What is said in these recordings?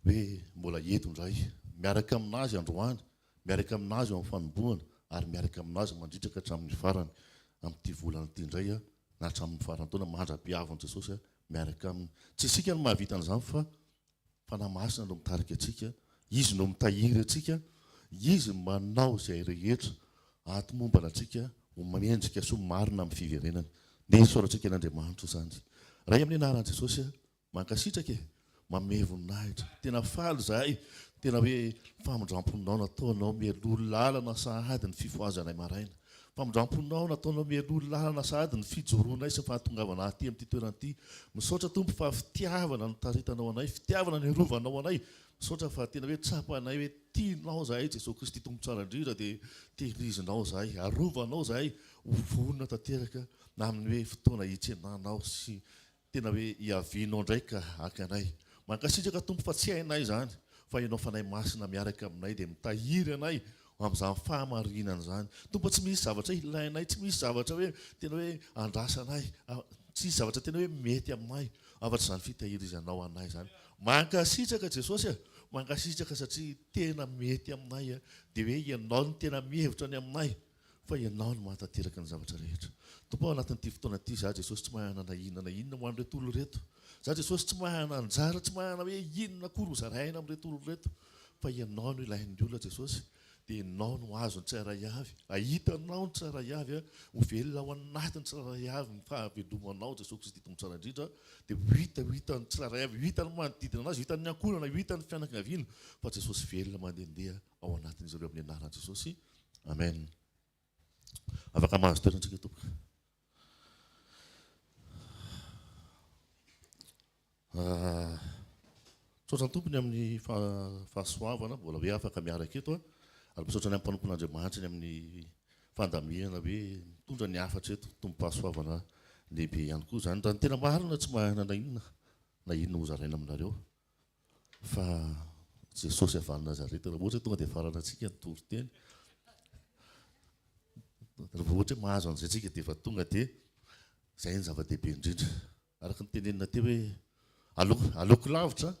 hoe mbola eto indray, miaraka amin'Azy androany, miaraka amin'Azy eo amin'ny fanombohana, ary miaraka amin'Azy mandritraka hatramin'ny farany amin'ity volana ity indray, na hatramin'ny faran'ny taona, mandra-pihavin'i Jesosy miaraka Aminy. Tsy isika no mahavita an'izany fa Fanahy Masina no mitarika antsika, Izy no mitahiry antsika, Izy no manao izay rehetra ahatomombana antsika ho mendrika sy ho marina amin'ny fiverenany. Nesorantsika an'Andriamanitra izany. Ray amin'ny anaran'i Jesosy, Mankasitraka e! Mamehy voninahitra. Tena faly izahay, tena hoe famindramponao nataonao mialoha lalana sahady ny fifohazanay maraina. Famindramponao nataonao mialoha lalana sahady ny fijoroanay sy ny fahatongavanay aty amin'ity toerana ity. Misaotra Tompo fa fitiavana no taritanao anay, fitiavana no irovanao anay. Misaotra fa tena hoe tsapanay hoe tianao izahay, Jesoa Kristy Tompo tsara indrindra dia tehirizinao izahay, arovanao izahay ho vonona tanteraka amin'ny hoe fotoana hitsenanao sy Tena hoe Yaveh nao ndray ka haka anay. Mankasitraka Tompo fa tsy hainay izany fa Ianao Fanahy Masina miaraka aminay dia mitahiry anay amin'izany fahamarinana izany. Tompo a tsy misy zavatra ilainay, tsy misy zavatra hoe tena hoe andrasanay, tsy misy zavatra tena hoe mety aminay afatr'izany fitahirizanao anay izany. Mankasitraka Jesosy a! Mankasitraka satria tena mety aminay dia hoe Ianao no tena mihevitra ny aminay. Fa Ianao no mahatanteraka ny zavatra rehetra. Tompo ao anatin'ity fotoana ity, izaho Jesosy tsy mahay hanana inona na inona ho an'ireto olona ireto. Izaho Jesosy tsy mahay hanana anjara, tsy mahay hanana hoe inona akory ho zaraina amin'ireto olona ireto. Fa Ianao no ilain'ny olona Jesosy. Dia Ianao no hahazo ny tsirairay avy. Hahita Anao ny tsirairay avy. Ho velona ao anatin'ny tsirairay avy ny fahavelomanao Jesosy Kristy Tompo Tsara Indrindra. Dia ho hita, ho hitan'ny tsirairay avy, ho hitan'ny manodidina anazy, ho hitan'ny ankohonana, ho hitan'ny fianakaviana fa Jesosy velona mandehandeha. ao anatin'izy ireo amin'ny anaran'i Jesosy. Amen. Afaka mahazo toerana isika tompoko. Ah, misaotra ny tompony amin'ny fahasoavana mbola hoe afaka miaraka eto ary misaotra ny amin'ny mpanompon'Andriamanitra ny amin'ny fandamihana hoe mitondra ny hafatra eto tompo-pahasoavana lehibe ihany koa izany raha ny tena marina tsy mahana na inona na inona hozaraina aminareo. Fa Jesosy avy any Nazareta, raha ohatra hoe tonga dia afarana antsika ny toriteny, raha vao ohatra hoe mahazo an'izay tsika dia efa tonga dia izay no zava-dehibe indrindra. Araka ny tenenina teo hoe aleoko aleoko lavitra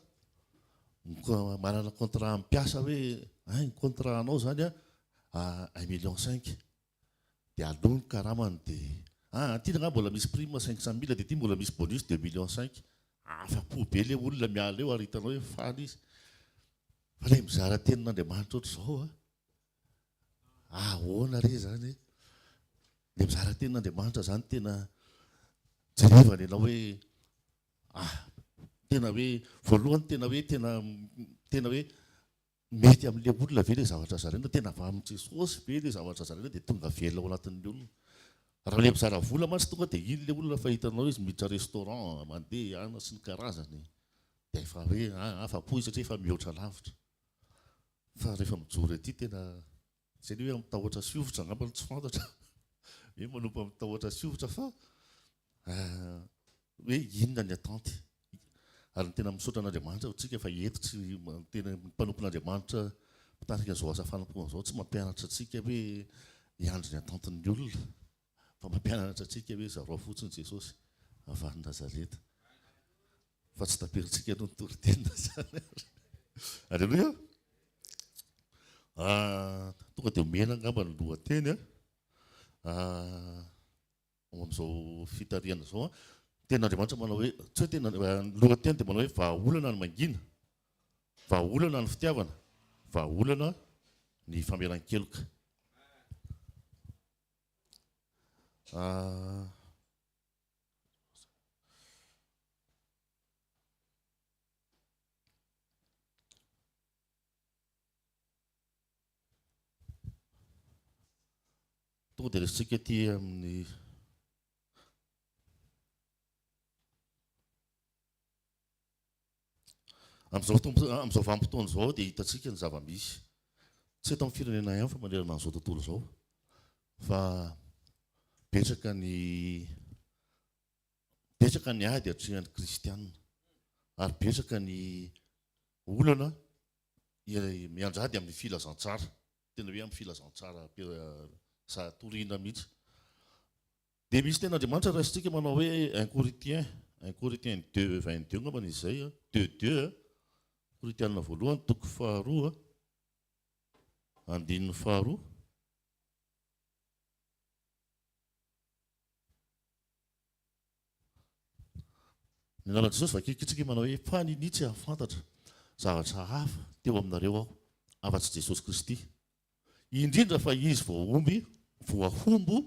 manana contrat amin'ny mpiasa hoe hay ny contrat anao izany a un million cinq. dia aloha ny karamany dia ah aty angaha mbola misy prime cinq cent mille dia aty mbola misy bonus deux millions cinq afa-po be ilay olona miala eo ary hitanao hoe faly izy fa ilay mizara tenin'Andriamanitra ohatr'izao an ahoana re izany e ilay mizara tenin'Andriamanitra izany tena jerevana ianao hoe ah tena hoe voalohany tena hoe tena tena hoe Mety amin'ilay olona ve ilay zavatra zaraina? Tena avy amin'i Jesosy ve ilay zavatra zaraina dia tonga velona ao anatin'ny olona? Raha ilay mpizara vola mantsy tonga dia iny ilay olona efa hitanao izy miditra restaurant, mandeha hiana sy ny karazany dia efa hoe afa-po izy satria efa mihoatra lavitra. Fa rehefa mijoro ety tena Tsy any hoe mitahoatra sy hovitra angamba no tsy fantatra hoe manompa mitahoatra sy hovitra fa hoe inona ny attente ary ny tena misaotra an'Andriamanitra ohatsika fa eto tsy tena mpanompon'Andriamanitra mpitarika izao asa fanompoana izao tsy mampianatra antsika hoe hiandry ny attente ny olona Fa mampianatra antsika hoe zarao fotsiny Jesosy avy any Nazareta. Fa tsy taperintsika aloha ny toriteny zany ary. Aleloia. Ah, tonga dia omena angamba ny lohateny ah. Ah, amin'izao fitarihana izao ah. Ten'Andriamanitra manao hoe, tsy hoe tena eh, ny lohateny dia manao hoe vahaolana ny mangina, vahaolana ny fitiavana, vahaolana ny famelan-keloka. Tonga dia resintsika aty amin'ny Amin'izao vanim-potoana izao dia hitantsika ny zava-misy, tsy eto amin'ny firenena ihany fa manerana an'izao tontolo izao, fa betsaka ny betsaka ny ady atrehan'ny kristianina ary betsaka ny olana mianjady amin'ny filazantsara, tena hoe amin'ny filazantsara toriana mihitsy. Dia misy tenin'Andriamanitra raisintsika manao hoe un Coritien, un Coritien deux, vingt deux angambany izy izay, deux deux, Koritianina voalohany toko faharoa, andininy faharoa. Ny anaran'i Jesosy vakikitsika manao hoe fa ninia tsy hahafantatra zavatra hafa teo aminareo aho afa-tsy Jesosy Kristy indrindra fa izy vao omby voahombo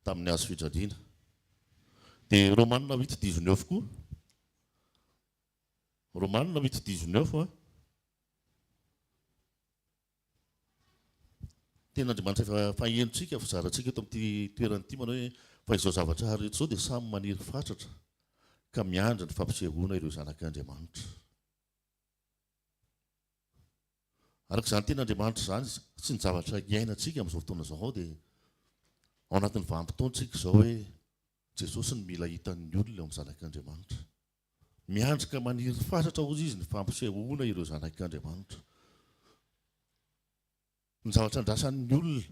tamin'ny hazo fijaliana. Dia Romanina huit dix neuf koa, Romanina huit dix neuf an, tena Andriamanitra efa fahenontsika, fizarantsika eto amin'ity toerana ity manao hoe fa izao zavatra rehetra izao dia samy maniry fatratra ka miandry ny fampisehoana ireo zanak'Andriamanitra. Araka izany tena Andriamanitra izany izy. Tsy ny zavatra iainantsika amin'izao fotoana izao ao dia ao anatin'ny vanim-potoantsika izao hoe Jesosy no mila hitan'ny olona eo amin'ny zanak'Andriamanitra. Miandry ka maniry fatratra hozy izy ny fampisehoana ireo zanak'Andriamanitra. Ny zavatra andrasan'ny olona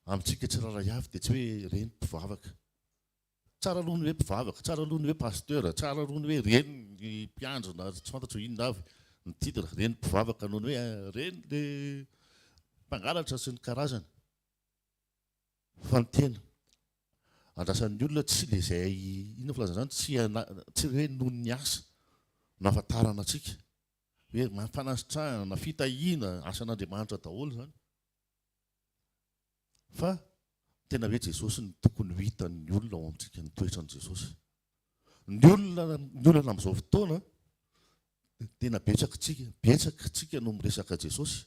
amintsika tsirairay avy dia tsy hoe ireny mpivavaka. Tsara aloha ny hoe mpivavaka, tsara aloha ny hoe pasteur, tsara aloha ny hoe reny ny mpiandry na tsy fantatro inona avy ny titre, reny mpivavaka noho ny hoe reny le mpangalatra sy ny karazany fa ny tena andrasan'ny olona tsy le zay inona ny filazana zany tsy ana tsy hoe noho ny asa no ahafantarana antsika hoe fanasitrahana, fitahiana, asan'Andriamanitra daholo zany. Fa tena hoe Jesosy no tokony ho hitan'ny olona ao amintsika ny toetran'i Jesosy. Ny olona ny olana amin'izao fotoana tena betsaka tsika betsaka tsika no miresaka Jesosy.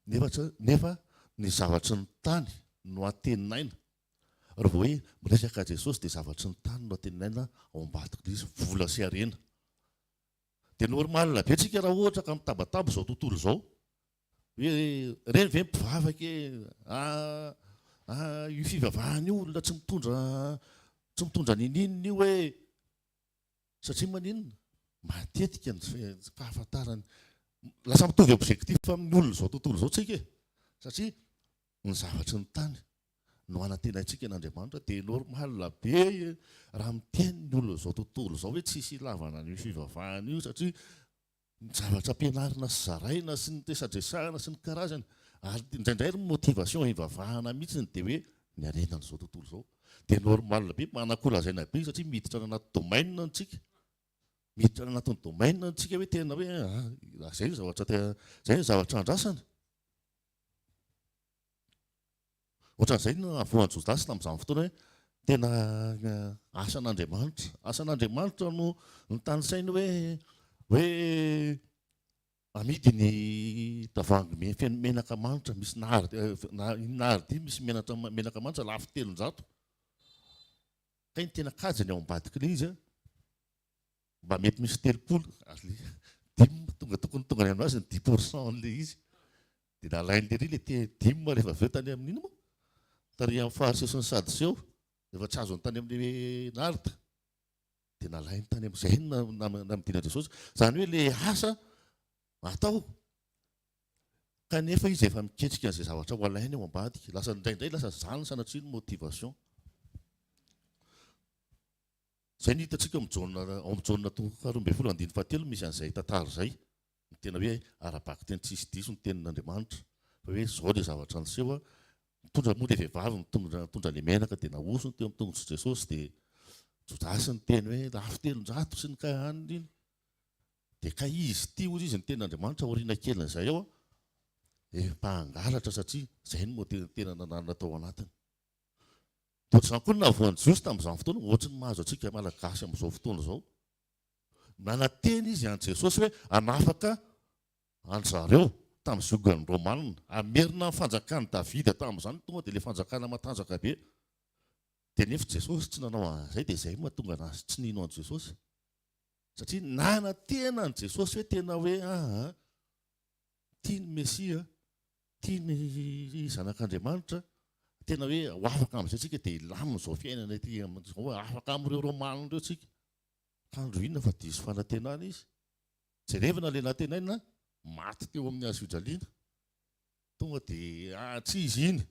Nefa nefa ny zavatry ny tany no antenaina. Raha vao hoe miresaka Jesosy dia zavatry ny tany no antenaina ao ambadik'ilay izy vola sy harena. Dia normal be tsika raha ohatra ka mitabataba izao tontolo izao. Hoe reny ve mpivavaka e, ah ah io fivavahana io olona tsy mitondra tsy mitondra niniana io e. Satria maninona? Matetika ny fahafantarany lasa mitovy objectif amin'ny olona izao tontolo izao tsika e. Satria ny zavatry ny tany no hanantenaintsika an'Andriamanitra dia normal be raha miteny ny olona izao tontolo izao hoe tsisy ilavana an'io fivavahana io satria ny zavatra ampianarina sy zaraina sy ny resadresahana sy ny karazany ary indraindray ary ny motivation hivavahana mihitsiny dia hoe ny harenan'izao tontolo izao dia normal be manako lazaina be satria miditra any anaty domaine antsika miditra any anatin'ny domaine antsika hoe tena hoe ah, izay ny zavatra tena izay ny zavatra andrasana Ohatran'izay no nahavoan'i Jodasy tamin'izany fotoana hoe tena asan'Andriamanitra. Asan'Andriamanitra no notanisainy hoe hoe amidy ny tavoahangy feno menaka manitra misy nard nard misy menatra menaka manitra lafo telonjato. Kay ny tena kajy ny ao ambadik'ilay izy a. Mba mety misy telopolo ary le dim tonga tokony tonga any aminazy ny dix pour cent anle izy de nalainle ry le te dim rehefa avy eo tany amin ino mo tary am fariseo sy ny sadoseo rehefa tsy azony tany amle nard de nalainy tany am zay no namidina jesosy zany hoe le asa atao kanefa izy efa miketrika anze zavatra ho alainy ao ambadika lasa indraindray lasa zany sanatria ny motivation Izay no hitantsika ao amin'ny Jaona toko faharoa ambin'ny folo andininy fahatelo no misy an'izay tantara izay, ny tena hoe ara-bakiteny tsisy diso ny tenin'Andriamanitra, fa hoe izao ilay zavatra niseho, nitondra moa ilay vehivavy nitondra nitondra ilay menaka dia nahosony teo amin'ny tongotr'i Jesosy dia Jodasy niteny hoe lafo telonjato sy ny kay hanina iny dia kay izy ity hoy izy ny tenin'Andriamanitra aoriana kelin'izay aho efa hangalatra satria izay no moa tena tena nananana tao anatiny. Dia izany koa ny nahavoan'i Jiosy tamin'izany fotoana, ohatry ny mahazo antsika Malagasy amin'izao fotoana izao. Nanantena izy an'i Jesosy hoe hanafaka an-dry zareo tamin'ny ziogan'ny Romanina, hamerina ny fanjakan'i Davida tamin'izany, tonga dia ilay fanjakana matanjaka be. Dia nefa Jesosy tsy nanao an'izay, dia izay no mahatonga an'azy tsy nino an'i Jesosy. Satria nanantena an'i Jesosy hoe tena hoe, aha, tia ny Mesia, tia ny Zanak'Andriamanitra, tena hoe ho afaka amin'izay tsika dia hilamina izao fiainana ity amin'izao, afaka amin'ireo Romanina ireo tsika. Ka andro inona fa diso fanantenana izy? Jerevana ilay nantenaina maty teo amin'ny hazofijaliana, tonga dia ah, tsy izy iny.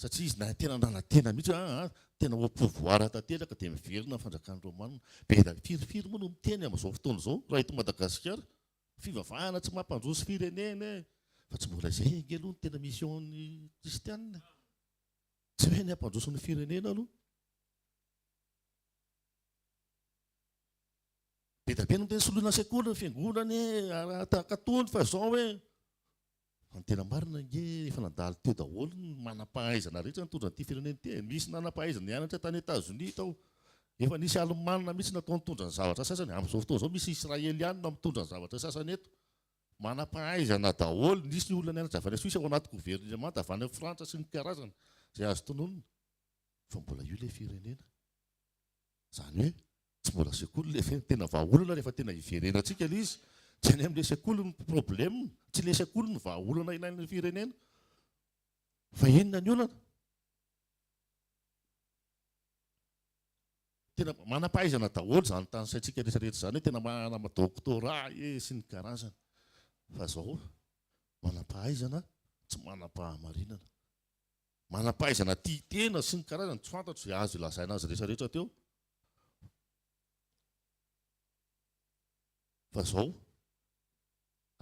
satria izy nahay tena nala tena mihitsy hoe aa tena au pouvoir tanteraka dia miverina ny fanjakan'ny romanina, be da firy firy moa no miteny amin'izao fotoana izao raha eto Madagasikara fivavahana tsy mampandroso firenena ee, fa tsy mbola izay ange aloha no tena mission-n'ny kristianina ee, tsy hoe ny hampandroso ny firenena aloha. Be da be no miteny soloina sekoly ny fiangonana ee, tahaka tony fa izao ee. Fa ny tena marina ange efa nandalo teo daholo ny manampahaizana rehetra nitondra an'ity firenena ity e! Nisy nanampahaizana nianatra tany Etazonia tao. Efa nisy Alemana mihitsy natao nitondra ny zavatra sasany. Amin'izao fotoana izao misy Israeliana mitondra ny zavatra sasany eto. Manampahaizana daholo. Nisy olona nianatra avy any Suisse ao anaty governemanta avy any Frantsa sy ny karazany izay azo tononina. Fa mbola io ilay firenena. Izany hoe tsy mbola sekoly ilay izy, tena vahaolana rehefa tena hiverenantsika ilay izy. Tsy any amin'ilay sekoly ny problème, tsy ilay sekoly no vahaolana ilain'ny firenena fa inona ny olana? Tena manam-pahaizana daholo izany tanisaintsika rehetra rehetra izany hoe tena manana doctorat ee sy ny karazany fa izao manam-pahaizana tsy manam-pahamarinana. Manam-pahaizana tia tena sy ny karazany tsy fantatro izay azo ilazaina azy rehetrarehetra teo fa izao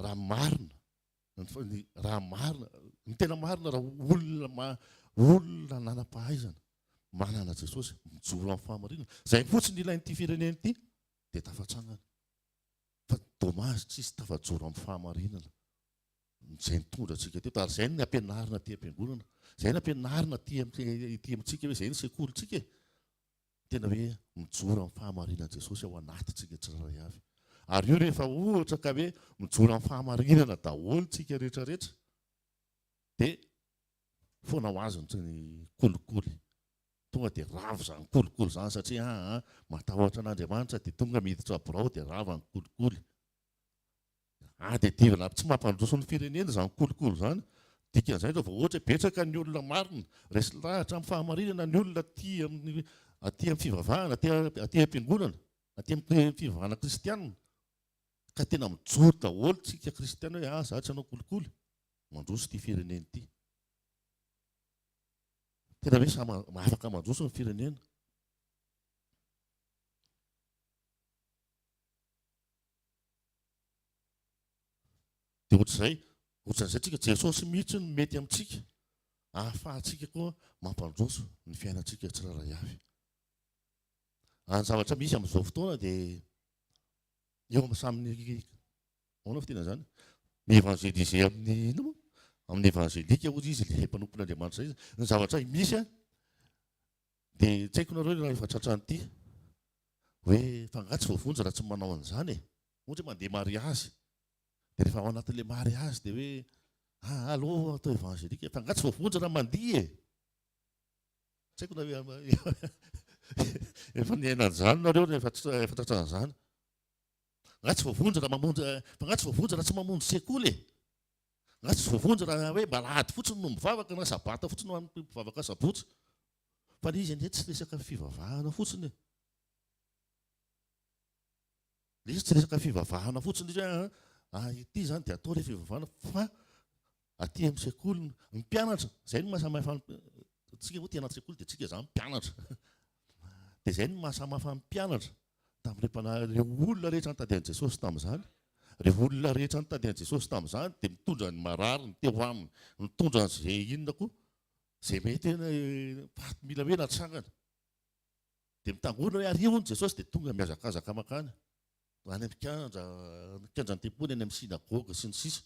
raha marina ny raha marina ny tena marina raha olona olona nanam-pahaizana manana Jesosy mijoro amin'ny fahamarinana izay fotsiny ilain'ity firenena ity dia tafatsangana fa dommage tsisy tafajoro amin'ny fahamarinana Izay nitondra antsika teto ary izay no nampianarina aty am-piangonana. Izay nampianarina aty aty amintsika hoe izay ny sekolintsika e. Tena hoe mijoro amin'ny fahamarinan'i Jesosy ao anatintsika tsirairay avy. Ary io rehefa ohatra ka hoe mijoro amin'ny fahamarinana daholo tsika rehetra rehetra dia foana ho azy ny kolikoly. Tonga dia rava izany kolikoly izany satria ah, ah, matahotra an'Andriamanitra dia tonga miditra birao dia rava ny kolikoly. Ady adivin'ny lafy tsy mampandroso ny firenena izany kolikoly izany. Dikan'izay izao vao ohatra hoe betsaka ny olona marina, resy lahatra amin'ny fahamarinana ny olona aty amin'ny aty amin'ny fivavahana, aty aty am-piangonana, aty amin'ny fivavahana kristiana. Ka tena mijoro daholo isika kristiana hoe aza tsy hanao kolikoly, mandroso ity firenena ity. Tena hoe samy afaka mandroso ny firenena. Dia ohatr'izay, ohatr'izay tsika, Jesosy mihitsy no mety amintsika ahafahantsika koa mampandroso ny fiainantsika tsirairay avy. Ary ny zavatra misy amin'izao fotoana dia eo amin'ny samy ahoana fitena izany? Ny évangéliser amin'ny ino moa? Amin'ny évangélika hoy izy ilay mpanompon'Andriamanitra izay. Ny zavatra misy Dia tsy haiko nareo raha efa tratran'ny ity hoe fa angaha tsy voavonjy raha tsy manao an'izany e. Ohatra hoe mandeha mariazy dia rehefa ao anatin'ilay mariazy dia hoe ah allo atao évangélique fa angaha tsy voavonjy raha mandihy e. Tsy haiko na efa niaina an'izany nareo rehefa efa tratran'izany. Angaha tsy voavonjy raha mamonjy fa angaha tsy voavonjy raha tsy mamonjy sekoly e. Na tsy voavonjy raha hoe mba alahady fotsiny no mivavaka na sabata fotsiny ho an'ny mpivavaka sabotsy. Fa ilay izy ange tsy resaka fivavahana fotsiny e. Ilay izy tsy resaka fivavahana fotsiny izy hoe ah, ah ity izany dia atao ilay fivavahana fa aty amin'ny sekoly ny mpianatra izay no mahasamihafa antsika hoe tena sekoly dia antsika izany mpianatra. Dia izay no mahasamihafa ny mpianatra. Tamin'ireo mpanahy, ireo olona rehetra nitady an'i Jesosy tamin'izany, ireo olona rehetra nitady an'i Jesosy tamin'izany dia nitondra ny marariny teo aminy, nitondra an'izay inona koa, izay mety hoe faty mila hoe natsangana. Dia mitangorona hoe ary hono Jesosy dia tonga mihazakazaka mankany any amin'ny kianja, ny kianjan'ny tempoly, any amin'ny synagoga sy ny sisa.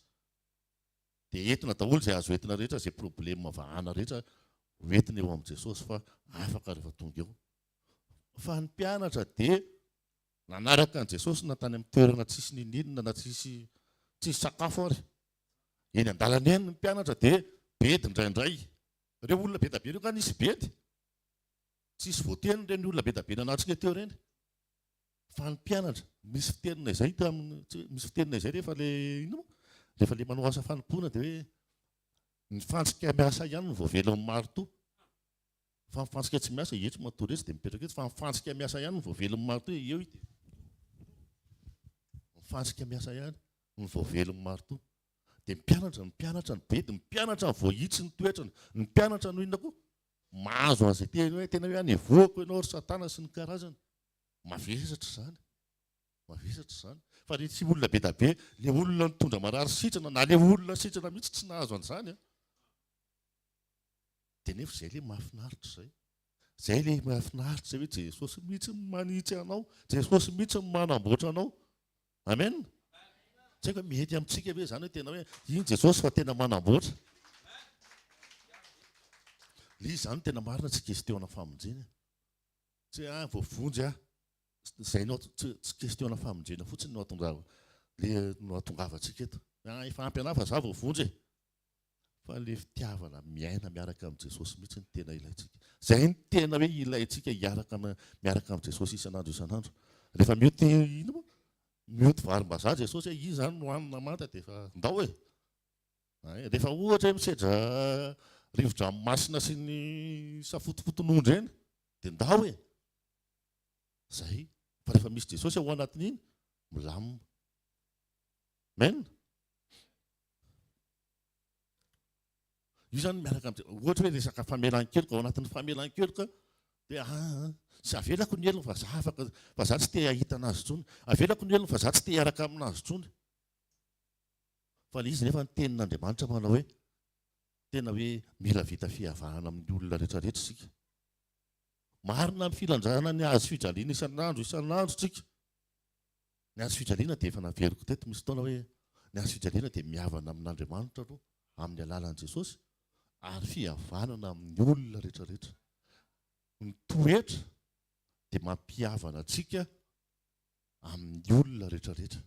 Dia entina daholo izay azo entina rehetra, izay problema vahana rehetra hoentina eo amin'i Jesosy fa afaka rehefa tonga eo. Fa ny mpianatra dia nanaraka an'i Jesosy na tany amin'ny toerana tsisy ninoninona na tsisy tsisy sakafo ary. Eny an-dalana eny ny mpianatra dia bedy indraindray. Ireo olona be dia be ireo nga nisy bedy? Tsisy voateny ireny olona be dia be nanatrika teo ireny. Fa ny mpianatra, misy fitenina izay teo amin'ny, misy fitenina izay rehefa le inona moa? Rehefa le manao asa fanompoana dia hoe ny fantsika miasa ihany no voavelan'ny marotoa. Fa ny fantsika tsy miasa, etsy matory etsy dia mipetraka etsy, fa ny fantsika miasa ihany no voavelon'ny maritoa, eo ity. Ny fantsika miasa ihany no voavelon'ny maritoa. Dia ny mpianatra, ny mpianatra ny bedy, ny mpianatra ny voahitsy ny toetrany, ny mpianatra no inona koa? Mahazo an'izay teny hoe, tena hoe anevoako ianao ry satana sy ny karazany. Mavesatra izany, mavesatra izany. Fa ilay tsy olona be dia be, ilay olona nitondra marary sitrana, na ilay olona sitrana mihitsy tsy nahazo an'izany an. Dia nefa izay ilay mahafinaritra izay. Izay ilay mahafinaritra izay hoe Jesosy mihitsy no manitsy anao, Jesosy mihitsy no manamboatra anao. Amen. Tsy haiko hoe mety amintsika ve izany hoe tena hoe iny Jesosy fa tena manamboatra. Ilay izy izany tena marina tsy kestiona famonjena. Tsy hoe ah voavonjy aho. Izay no tsy kestiona famonjena fotsiny no ahatonga le no ahatongavantsika eto. Ah efa ampy anah fa za voavonjy e. Fa ilay fitiavana miaina miaraka amin'i Jesosy mihitsy no tena ilaintsika. Izay no tena hoe ilaintsika hiaraka miaraka amin'i Jesosy isan'andro isan'andro. Rehefa mioty inona moa? Mioty varimbazaha Jesosy hoe izy izany no hanina manta dia efa ndao e! Rehefa ohatra hoe misedra rivo-dranomasina sy ny safotofoton'ondry eny dia ndao e! Izay. Fa rehefa misy Jesosy ao anatin'iny, milamina. Amen? Io zany miaraka am ohatra hoe resaka famelan-keloka ao anatin'ny famelan-keloka dia ah, ah tsy avelako ny helony fa za afaka fa za tsy te hahita anazy intsony. Avelako ny helony fa za tsy te hiaraka aminazy intsony. Fa ilay izy nefa ny tenin'Andriamanitra manao hoe tena hoe mila vita fihavahana amin'ny olona rehetra rehetra isika. Marina ny filanjana ny hazo fijaliana isan'andro isan'andro tsika. Ny hazo fijaliana dia efa naveriko teto misy taona hoe ny hazo fijaliana dia mihavana amin'Andriamanitra aloha amin'ny alalan'i Jesosy ary fihavanana amin'ny olona rehetrarehetra. Ny toetra dia mampihavana antsika amin'ny olona rehetrarehetra.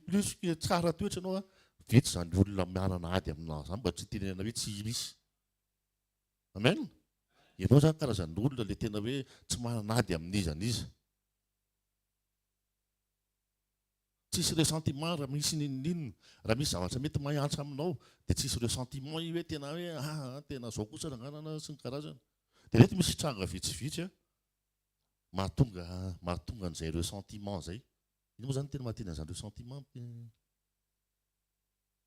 Plus que tsara toetra ianao, vitsy izany olona manana ady aminao izany mba tsy hitenenana hoe tsy irisy. Amen? Ianao izany karazan'olona ilay tena hoe tsy manana ady amin'iza n'iza. Tsisy ressentiment raha misy n'inon'inona. Raha misy zavatra mety mahantra aminao dia tsisy ressentiment io hoe tena hoe aa aa tena zao kosa ra ngah na sy ny karazany. Dia mety misy tranga vitsivitsy mahatonga mahatonga an'izay ressentiment izay. Inona moa zany ny tena maha teny an'izany ressentiment?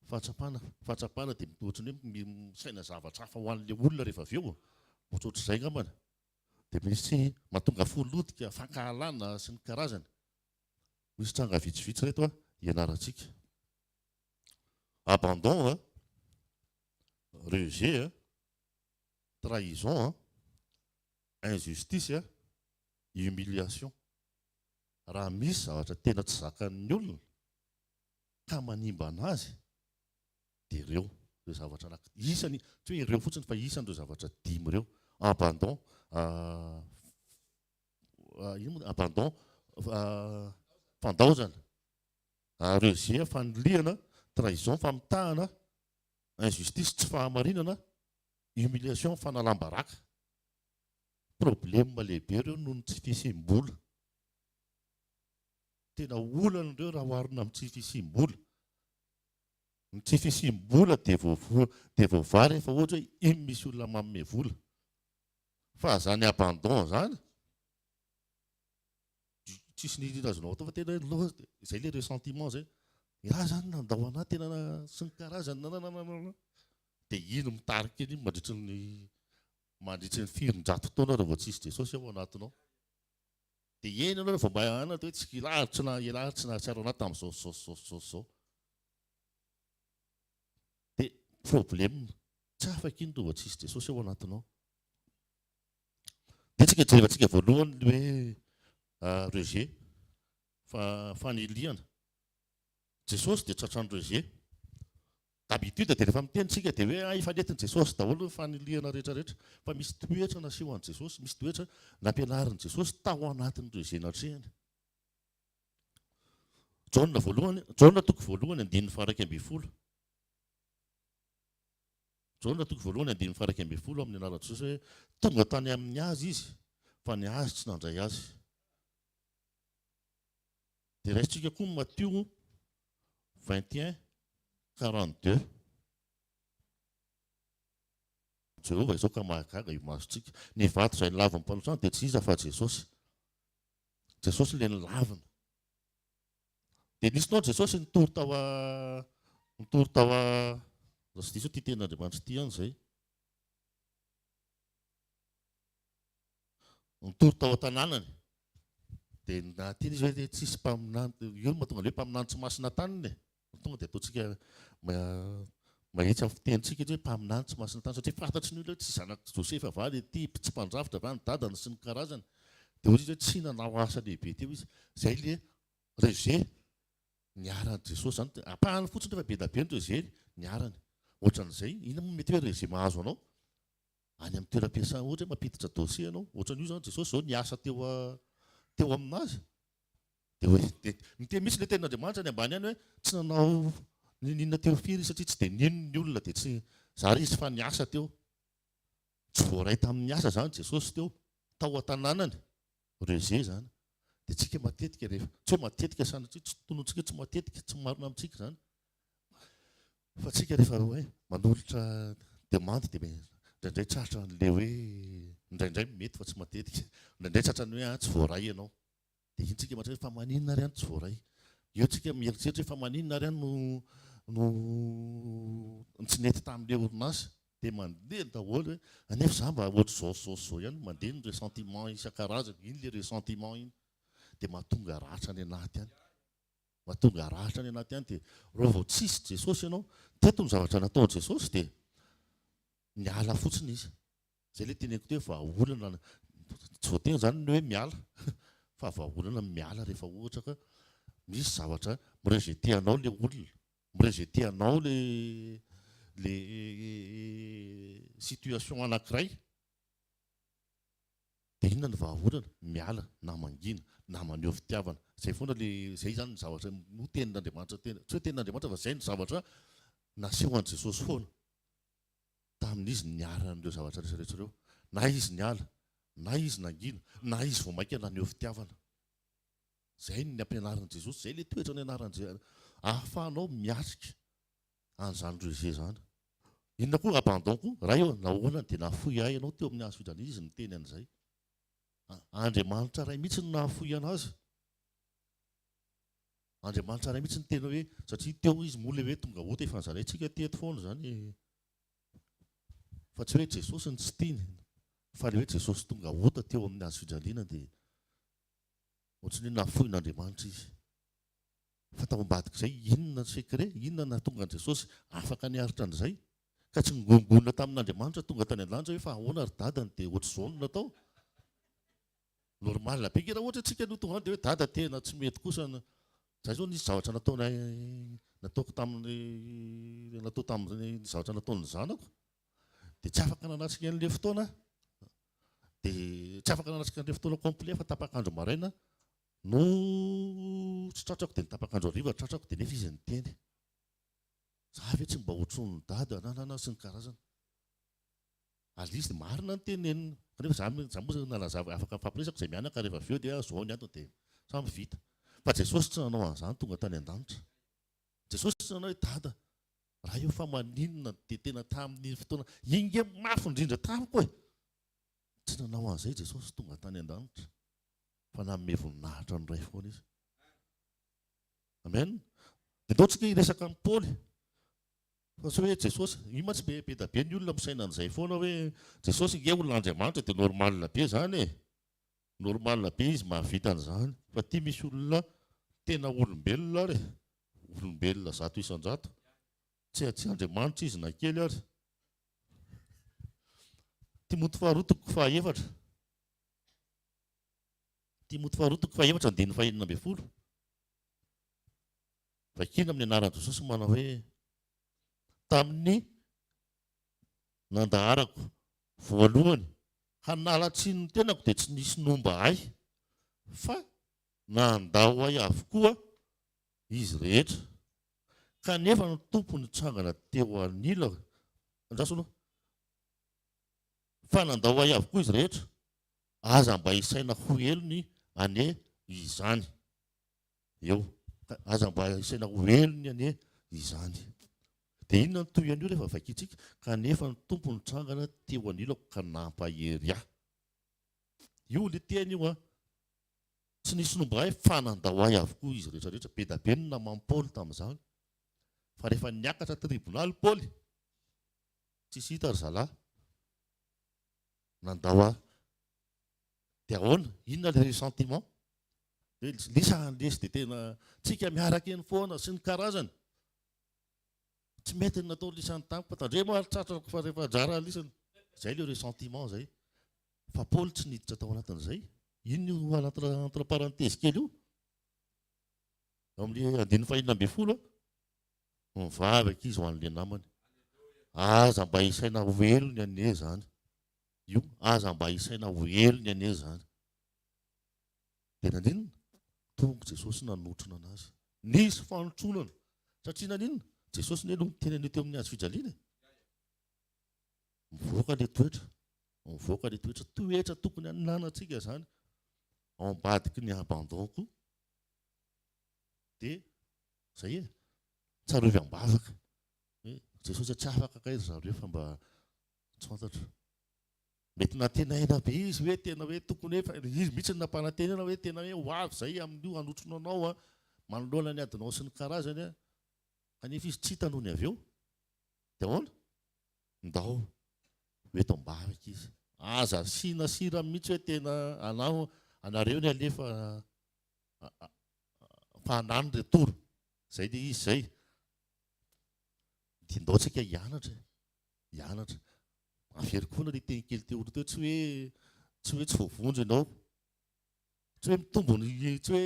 Fahatsapana, fahatsapana dia ohatran'ny hoe misaina zavatra hafa ho an'ilay olona rehefa avy eo, ohatrohatr'izay ngambany. dia misy mahatonga fo lotika, fankahalana sy ny karazany. Misy tranga vitsivitsy ireto hianarantsika. Abandon, rejet, trahison, injustice, humiliation. Raha misy zavatra tena tsy zakan'ny olona ka manimbana azy Dia ireo ireo zavatra anaky isany tsy hoe ireo fotsiny fa isany ireo zavatra dimy ireo abandon ino moa abandon fandaozana rejet fanilihana trahison famitahana injustice tsy fahamarinana humiliation fanalam-baraka problème lehibe ireo noho ny tsy fisiam-bola tena olana ireo raha oharina amin'ny tsy fisiam-bola Ny tsy fisiam-bola dia voa dia voavaha rehefa ohatra hoe iny misy olona manome vola. Fa izany abandon izany, tsisy nirina azonao atao fa tena hoe loha dia izay ilay ressentiment izay. Ialahy izany nandao anà tena sy ny karazany nananananana. Dia iny mitarika eny iny mandritry ny mandritry ny firinjato taona raha vao tsy hisy Jesosy ao anatinao. Dia eny ianao vao mba hanatra hoe tsy kila ary tsy nahahila ary tsy nahatsiaro anà tamin'izao sy izao sy izao sy izao. Dia problème, tsy afaka iny rova tsy hisy Jesosy ao anatinao. Dia tsika jerevantsika voalohany ny hoe rejet, fa fanilihana. Jesosy dia tratran'ny rejet. D'habitude dia rehefa miteny isika dia hoe efa nentin'i Jesosy daholo ny fanilihana rehetra rehetra fa misy toetra nasehon'i Jesosy, misy toetra nampianarin'i Jesosy tao anatin'ireo izay natrehiny. Jaona voalohany, Jaona toko voalohany andininy faharaika ambin'ny folo. Jaona toko voalohany andininy faharaika ambin'ny folo amin'ny anaran'i Jesosy hoe tonga tany amin'ny azy izy fa ny azy tsy nandray azy. Dia raisintsika koa ny Matio vingt et un quarante deux Jehovah izao ka mahagaga io masontsika. Ny vato izay nilavin'ny mpanotrano dia tsy iza fa Jesosy. Jesosy ilay nilavina. Dia nisy nao Jesosy nitory tao a nitory tao a raha tsy diso ity tenin'Andriamanitra ity ihany izay. nitory tao an-tanànany, dia na tiany izy hoe tsisy mpaminany, io no mahatonga ny hoe mpaminany tsy masina tanana e! tonga dia ataontsika mahitsy amin'ny fitenintsika izy hoe mpaminany tsy masina tanana, satria fantatry ny olona hoe tsy zanak'i Josefa va ilay ity, tsy mpandrafitra va ny dadany sy ny karazany, dia hoy izy hoe tsy nanao asa lehibe teo izy, izay ilay rejet niharan'i Jesosy, izany dia ampahany fotsiny nefa be dia be ny rejet niharany, ohatran'izay, inona moa no mety hoe rejet mahazo anao? any amin'ny toeram-piasana ohatra hoe mampiditra dossier ianao ohatran'io izany Jesosy izao niasa teo teo amin'azy dia hoe dia miteny mihitsy ilay tenin'Andriamanitra any ambany any hoe tsy nanao ninoninona teo firy izy satria tsy dia nino ny olona dia tsy zary izy fa niasa teo tsy voaray tamin'ny asa izany Jesosy teo tao an-tanànany reze izany dia tsika matetika rehefa tsy hoe matetika sanatria tsy tonontsika tsy matetika tsy marina amintsika izany Fa tsika rehefa hoe manolotra demande dia indraindray tratran' ilay hoe indraindray mety fa tsy matetika. Indraindray tratran'ny hoe an tsy voaray ianao. Dia iny tsika mahatratra hoe fa maninona ary an tsy voaray. Eo tsika mieritreritra hoe fa maninona ary an no no tsy nety tamin'ilay orinasa. Dia mandeha ny daholo hoe anefa za mba ohatr'izao sy izao sy izao ihany. Mandeha ny ressentiment isan-karazany. Iny ilay ressentiment iny dia mahatonga ratra any anaty any. Mba tonga ratra any anaty any dia raha vao tsisy Jesosy ianao, teto ny zavatra nataon'i Jesosy dia niala fotsiny izy. Izay ilay teneniko teo vahaolana, tsy voatery izany ny hoe miala fa vahaolana ny miala rehefa ohatra ka misy zavatra mi-rejeter anao ilay olona, mi-rejeter anao ilay ilay situation anankiray. Dia inona ny vahaolana? Miala na mangina na maneho fitiavana. Izay foana le, izay izany ny zavatra no tenin'Andriamanitra tena, tsy hoe tenin'Andriamanitra fa izay no zavatra nasehon'i Jesosy foana tamin'izy niara an'ireo zavatra rehetra rehetra ireo. Na izy niala, na izy nangina, na izy vao maika naneho fitiavana. Izay ny ampianarin'i Jesosy, izay le toetra nianaran'i Jesosy, ahafahanao miatrika Any zany ruse zany. Inona koa abandon koa? Ray ô, nahoana dia nahafoy ahy ianao teo amin'ny hazo fidrana izy niteny an'izay? Andriamanitra Ray mihitsy no nahafoy anazy. Andriamanitra Ray mihitsy niteny hoe satria teo izy moa ilay hoe tonga ota efa nozaraintsika teto foana izany e. Fa tsy hoe Jesosy no tsy tiany fa ilay hoe Jesosy tonga ota teo amin'ny hazo fidraliana dia ohatran'ny hoe nahafoin'Andriamanitra izy. Fa tao ambadik'izay, inona ny secret? Inona no nahatonga an'i Jesosy afaka niaritra an'izay? Ka tsy ningongona tamin'Andriamanitra tonga tany an-danitra hoe fa ahoana ry dadany dia ohatr'izao no natao? Normal be, nge raha ohatra hoe tsika no tonga any dia hoe dada tena tsy mety kosa ny, zay zao nisy zavatra nataonay nataoko tamin'ny natao tamin'ny zavatra nataon'ny zanako dia tsy afaka nanatrika an'ilay fotoana aho dia tsy afaka nanatrika an'ilay fotoana complet fa tapak'andro maraina No tsy tratrako dia ny tapak'andro hariva tratrako dia nefa izy niteny. Za ve tsy mba hotron'ny dada ananana sy ny karazany. Alice dia marina ny teneniny kanefa za za moa nalazavo afaka nifampiresaka izay mianaka rehefa avy eo dia zao ny antony dia samy vita. Fa Jesosy tsy nanao an'izany tonga tany an-danitra. Jesosy tsy nanao hoe dada raha eo fa maninona dia tena tamin'iny fotoana iny nge mafy indrindra tamiko e! Tsy nanao an'izay Jesosy tonga tany an-danitra. fa nanome voninahitra ny Ray foana izy. Amen. Dia ndao tsika hiresaka amin'ny Paoly. Fa tsy hoe Jesosy, io mantsy be be da be ny olona misaina an'izay foana hoe Jesosy nge olona Andriamanitra dia normal be zany e. Normal be izy mahavita an'izany. Fa ty misy olona tena olombelona ary e. Olombelona zato isan-jato. Tsy tsy Andriamanitra izy na kely ary. Timoty faharoa toko fahaefatra. Timoty faharoa toko fahefatra andininy fahenina ambin'ny folo. Vakina amin'ny anaran'i Jesosy no manao hoe tamin'ny nandaharako voalohany hanalatsiny ny tenako dia tsy nisy nomba ahy fa nandao ahy avokoa izy rehetra kanefa ny tompo nitsangana teo anilako andraso aloha Fa nandao ahy avokoa izy rehetra, aza mba isaina ho helony anie izany. Eo. Ka aza mba isaina ho helony anie izany. Dia inona no tohin'io rehefa vakintsika, Kanefa ny Tompo nitrangana teo anilako ka nampahery ahy. Io ilay teny io an. Tsy nisy nomba ahy fa nandao ahy avokoa izy rehetrarehetra. Be da be ny naman'i Paoly tamin'izany. Fa rehefa niakatra tribonaly Paoly, Tsisy hita ry zalahy. Nandao ahy. Dia ahoana? Inona ilay sentiment? Dia ilay sahany lesy dia tena tsika miaraka eny foana sy ny karazany. Tsy mety ny nataon'i lisany tamiko. Tandremo ary tratrako fa rehefa anjara lisany. Izay ilay ressentiment izay. Fa Paoly tsy niditra tao anatin'izay. Inona io entre entre parenthèses kely io? Ao amin'ny andininy fahenina ambin'ny folo. Mivavaka izy ho an'ilay namany. Aza mba isaina ho helony anie izany. Io, aza mba isaina ho helony anie izany. Dia naninona? Tonga Jesosy nanotrona anazy. Nisy fanotronana. Satria naninona? Jesosy anie no tena an'io teo amin'ny hazo fijaliana e. Mivoaka ilay toetra. Mivoaka ilay toetra. Toetra tokony hananantsika izany. Ao ambadiky ny abandon koa. Dia Zay e! Tsarovy am-bavaka hoe Jesosy a tsy afaka kay ry zareo fa mba tsy fantatro. Mety nantenaina be izy hoe tena hoe tokony hoe fa izy mihitsy no nampanantenana hoe tena hoe ho avy zay amin'io hanotrona anao a, manoloana ny adinao sy ny karazany a, kanefa izy tsy hita nony avy eo. De ahoana? Ndao ho eto am-bavaka izy. Aza asiana sira mihitsy hoe tena anao anareo ny alefa fa anany retour zay le izy zay de ndao tsika hianatra e hianatra averiko foana le teny kely teoaloha teo tsy hoe tsy hoe tsy voavonjy ianao tsy hoe mitombo ny tsy hoe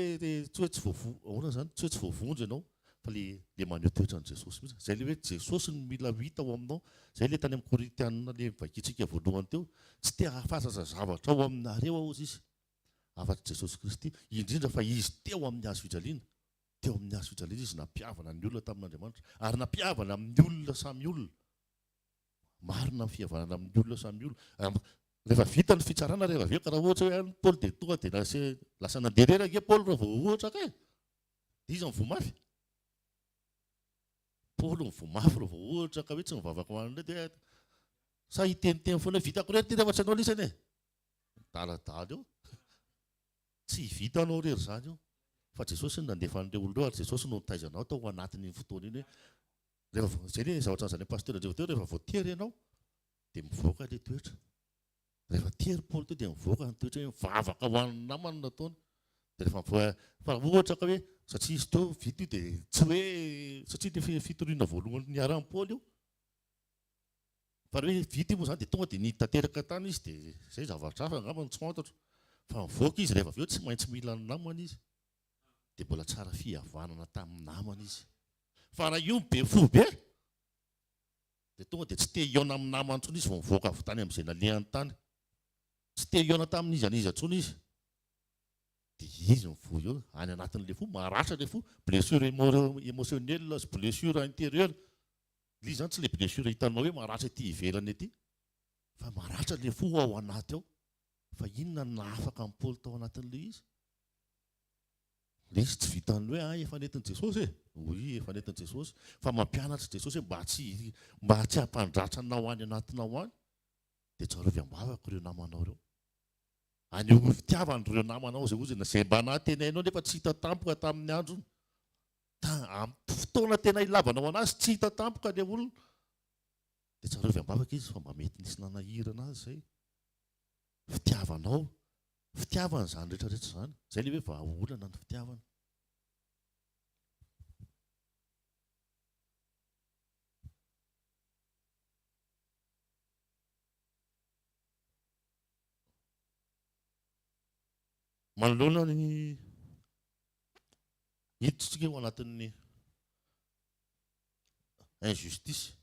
tsy hoe tsy voavo ahoana zany tsy hoe tsy voavonjy ianao fa le le maneho toetra ny jesosy mihitsy zay le hoe jesosy no mila hita ao aminao zay le tany am korintianina le vakintsika voalohany teo tsy te hahafantatsa zavatra ao aminareo aho ozy izy afa-tsy Jesosy Kristy, indrindra fa Izy teo amin'ny Hazo fijaliana. Teo amin'ny Hazo fijaliana Izy nampihavana ny olona tamin'Andriamanitra, ary nampihavana amin'ny olona samy olona. Marina ny fihavanana amin'ny olona samy olona. Rehefa vita ny fitsarana rehefa avy eo, ka raha ohatra hoe any Paoly dia tonga dia lasa, lasa nandeha irery ange Paoly raha vao ohatra ka e. Dia iza mivoa mafy? Paoly mivoa mafy raha vao ohatra ka hoe tsy mivavaka ho an'ilay dia sa hiteniteny foana hoe vitako irery ity rehefa tsy anao lisany e. Midaladala eo. Tsy vitanao irery izany io. Fa Jesosy no nandefa an'ireo olona ireo ary Jesosy no nitaiza anao tao anatin'iny fotoana iny hoe rehefa izay anie zavatra nozarain'i Pasteur Andrivo teo rehefa vao tery ianao dia mivoaka ilay toetra. Rehefa tery Paoly teo dia mivoaka ny toetra hoe mivavaka ho an'ny namany no nataony. Dia rehefa mivoaka fa raha ohatra ka hoe satria izy teo vita io dia tsy hoe satria ilay fitoriana voalohany niarahan'i Paoly io. Fa raha hoe vita io moa zany dia tonga dia niditra tanteraka tany izy dia izay zavatra hafa angamba no tsy fantatro. Fa nivoaka izy rehefa avy eo tsy maintsy mila ny namany izy. Dia mbola tsara fihavanana tamin'ny namany izy. Fa raha io be fo be dia tonga dia tsy te hihaona amin'ny namany intsony izy vao nivoaka avy tany amin'izay nalehany tany. Tsy te hihaona tamin'iza n'iza intsony izy. Dia izy mivoy eo, any anatin'ilay fo, maratra ilay fo, blessure émotionnelle sy blessure intérieure. Dia izany tsy ilay blessure hitanao hoe maratra ety ivelany ety fa maratra ilay fo ao anaty ao. Fa inona no nahafaka an'i Paoly tao anatin'ilay izy? Ilay izy tsy vitan'ny hoe ah efa nentin'i Jesosy e! Oui efa nentin'i Jesosy fa mampianatra i Jesosy hoe mba tsy mba tsy hampandratra anao any anatinao any dia tsarovy am-bavaka ireo namanao ireo. Anehoy fitiavana ireo namanao izay hozy na izay mba nahatenainao nefa tsy hita tampoka tamin'ny androny. Fotoana tena hilavanao anazy tsy hita tampoka ilay olona dia tsarovy ambavaka izy fa mba mety nisy nanahirana azy izay. Fitiavanao, fitiavana izany rehetra rehetra izany. Izay ilay hoe vahaolana ny fitiavana. Manoloana ny Hiditra ao anatin'ny injustice.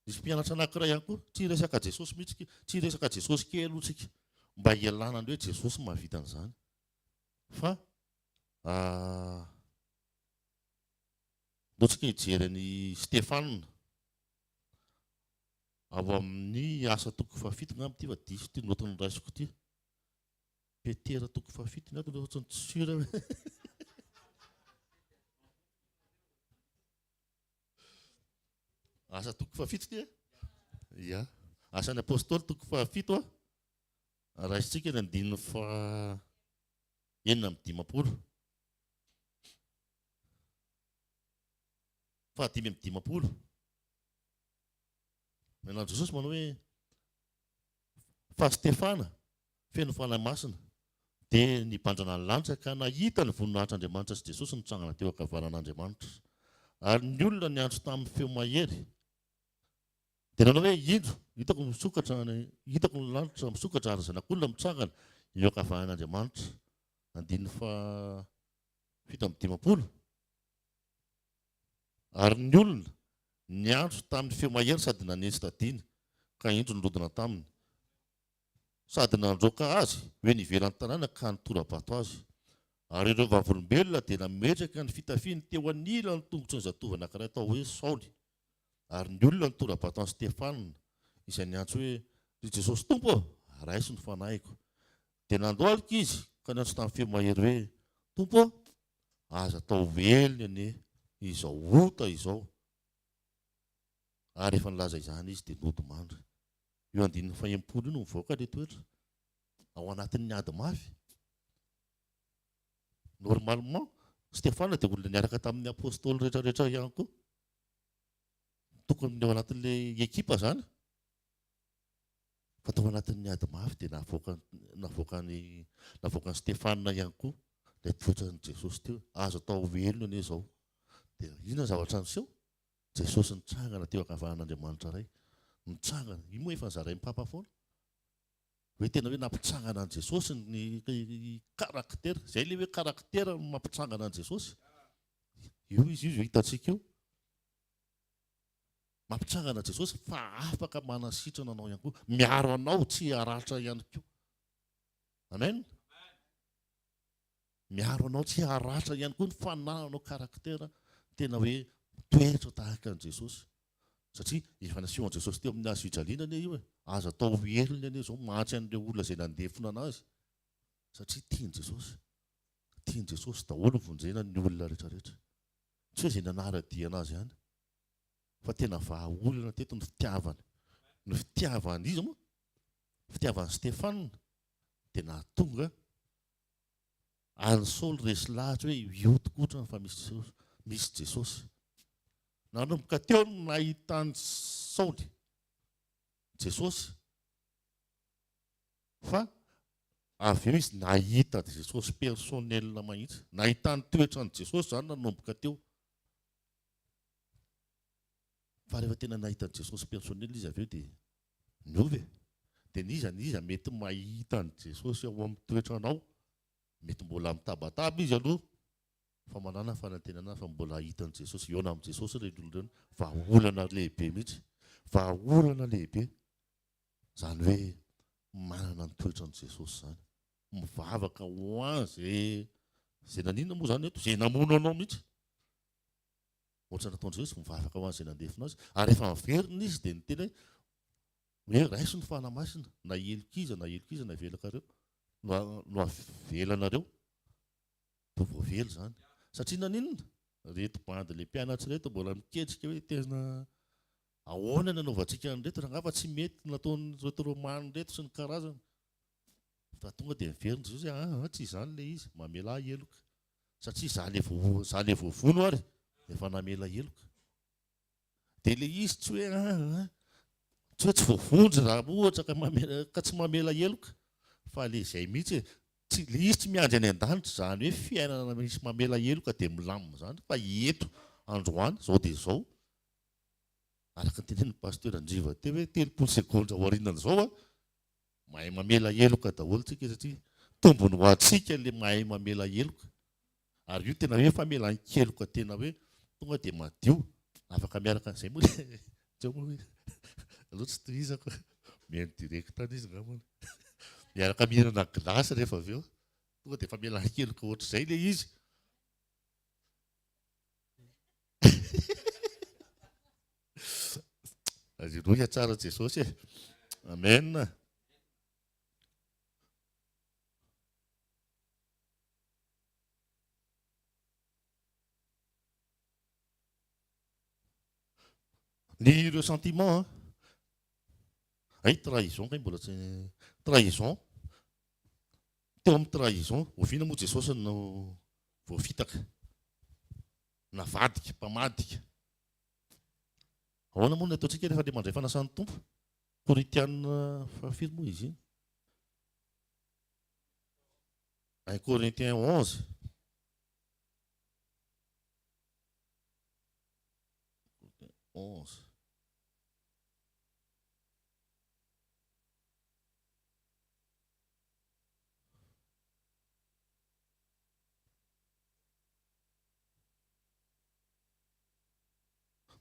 Nisy mpianatra anankiray ihany koa, tsy hiresaka Jesosy mihitsy isika, tsy hiresaka Jesosy kely aloha isika, mba hialana amin'ny hoe Jesosy no mahavita an'izany. Fa ah, mbola tsika hijery an'i Stefana ao amin'ny asa toko fahafito ngamba ity fa diso ity notin'ny raisiko ity. Petera toko fahafito ny adiny ohatrany tsy sûr aho. Asa toko fahafito ity eh? Ya. Asan'ny apôstôly toko fahafito ah. Raisintsika ny andininy faha enina amin'ny dimampolo. Faha dimy amin'ny dimampolo. Menan'i Jesosy manao hoe Fa Stefana, feno Fanahy Masina, dia nibanjana ny lanitra ka nahita ny voninahitr'Andriamanitra sy Jesosy nitsangana teo an-kavaran'Andriamanitra. Ary ny olona niantso tamin'ny feo mahery, dia nanao hoe, Indro, hitako misokatra, hitako ny lanitra misokatra ary Zanak'olona mitsangana eo an-kavaran'Andriamanitra. Andininy faha fito amby dimampolo. Ary ny olona niantso tamin'ny feo mahery sady nanetsi-tadiana, ka indro nirodana taminy, sady nandroaka azy ho eny ivelan'ny tanàna ka nitora-bato azy. Ary ireo vavolombelona dia nametraka ny fitafiany teo anilan'ny tongotry ny zatovo anankiray atao hoe Saoly. Ary ny olona nitora-bato an'i Stefana, izay niantso hoe, Ry Jesosy Tompo ô, raiso ny fanahiko. Dia nandohalika izy ka niantso tamin'ny feo mahery hoe, Tompo ô, aza atao ho velona anie izao ota izao. Ary rehefa nilaza izany izy dia nody mandry. Io andininy fahenimpolo io no mivoaka ilay toetra ao anatin'ny ady mafy. Normalement, Stefana dia olona niaraka tamin'ny apostoly rehetrarehetra ihany koa. Tokony ny ao anatin'ilay ekipa izany. Fa tao anatin'ny ady mafy dia navoakan'i navoakan'i Stefana ihany koa ilay toetran'i Jesosy teo hoe, Azo atao ho velona anie izao. Dia inona ny zavatra niseho? Jesosy nitsangana teo ankavanan'Andriamanitra Ray. Nitsangana. Io moa efa nozarain'ny Papa foana. Hoe tena hoe nampitsangana an'i Jesosy ny karaktera. Izay ilay hoe karaktera no mampitsangana an'i Jesosy. Io izy io izay hitantsika io. Mampitsangana Jesosy fa afaka manasitrana anao ihany koa, miaro anao tsy haratra ihany koa. Amen. Miaro anao tsy haratra ihany koa ny fanananao karaktera tena hoe mitoetra tahaka an'i Jesosy. Satria efa nasehon'i Jesosy teo amin'ny hazo fijaliana anie io e. Aza atao ho helony anie izao mantsy an'ireo olona izay nandefona anazy. Satria tian'i Jesosy. Tian'i Jesosy daholo vonjena ny olona rehetra rehetra. Tsy hoe izay nanara-dia anazy ihany. fa tena vahaolana teto ny fitiavany ny fitiavany izy moa fitiavany Stéphane dia nahatonga any Saoly resy lahatra hoe io tokoa otrany fa misy misy Jesosy nanomboka teo no nahitany Saoly Jesosy fa avy eo izy nahita Jesosy personnel mahitsy nahitany toetrany Jesosy zany nanomboka teo Fa rehefa tena nahita an'i Jesosy personnel izy avy eo dia niova e! Dia n'iza n'iza mety mahita an'i Jesosy ao amin'ny toetranao, mety mbola mitabataba izy aloha fa manana fanantenana fa mbola hahita an'i Jesosy, hihaona amin'i Jesosy ireny olona ireny, vahaolana lehibe mihitsy, vahaolana lehibe izany hoe manana ny toetran'i Jesosy izany, mivavaka ho an' izay, izay nanina moa izany eto, izay namono anao mihitsy, Ohatra nataon'i Jesosy, mivavaka ho an'izay nandefona azy, ary rehefa niverina izy dia niteny hoe, hoe raiso ny fanahy masina, na heloka iza na heloka iza no avelakareo, no avelanareo, dia voavela izany. Satria naninona? Ireto bandy ilay mpianatra ireto mbola miketrika hoe tena ahoana ny anaovantsika an'ireto, raha angamba tsy mety ny nataon'ireto Romana ireto sy ny karazany. Fa tonga dia niverina Jesosy hoe, aa, tsy izany ilay izy, mamelà heloka. satria za le vo za le voavono ary efa namela heloka de le izy tsy hoe ah ah tsy hoe tsy voavonjy ra ohatra ka mamela ka tsy mamela heloka fa le zay mihitsy e tsy le izy tsy miandry any an-danitra zany hoe fiainana misy mamela heloka de milamina zany fa eto androany zao de zao araka ny tenenin'i pasteur Andriva teo hoe telopolo segondra aorianan'izao a Mahay mamela heloka daholo tsika satria tombony ho antsika le mahay mamela heloka ary io tena hoe famelan-keloka tena hoe tonga dia madio afaka miaraka an'izay moa le teo moa hoe aleo tsy tohizako mihaino direct any izy angambany miaraka mihinana glace rehefa avy eo tonga dia famelan-keloka ohatr'izay le izy Alléluia tsara Jesosy e. Amen. Ny ressentiment, ay trahison kay mbola tsy trahison. Teo amin'ny trahison, oviana moa Jesosy no voafitaka? Navadika, mpamadika. Ahoana moa ny ataontsika rehefa andeha mandray fanasan'ny Tompo? Korintiana fahafiry moa izy iny? Un Corinthiens 11. Onze.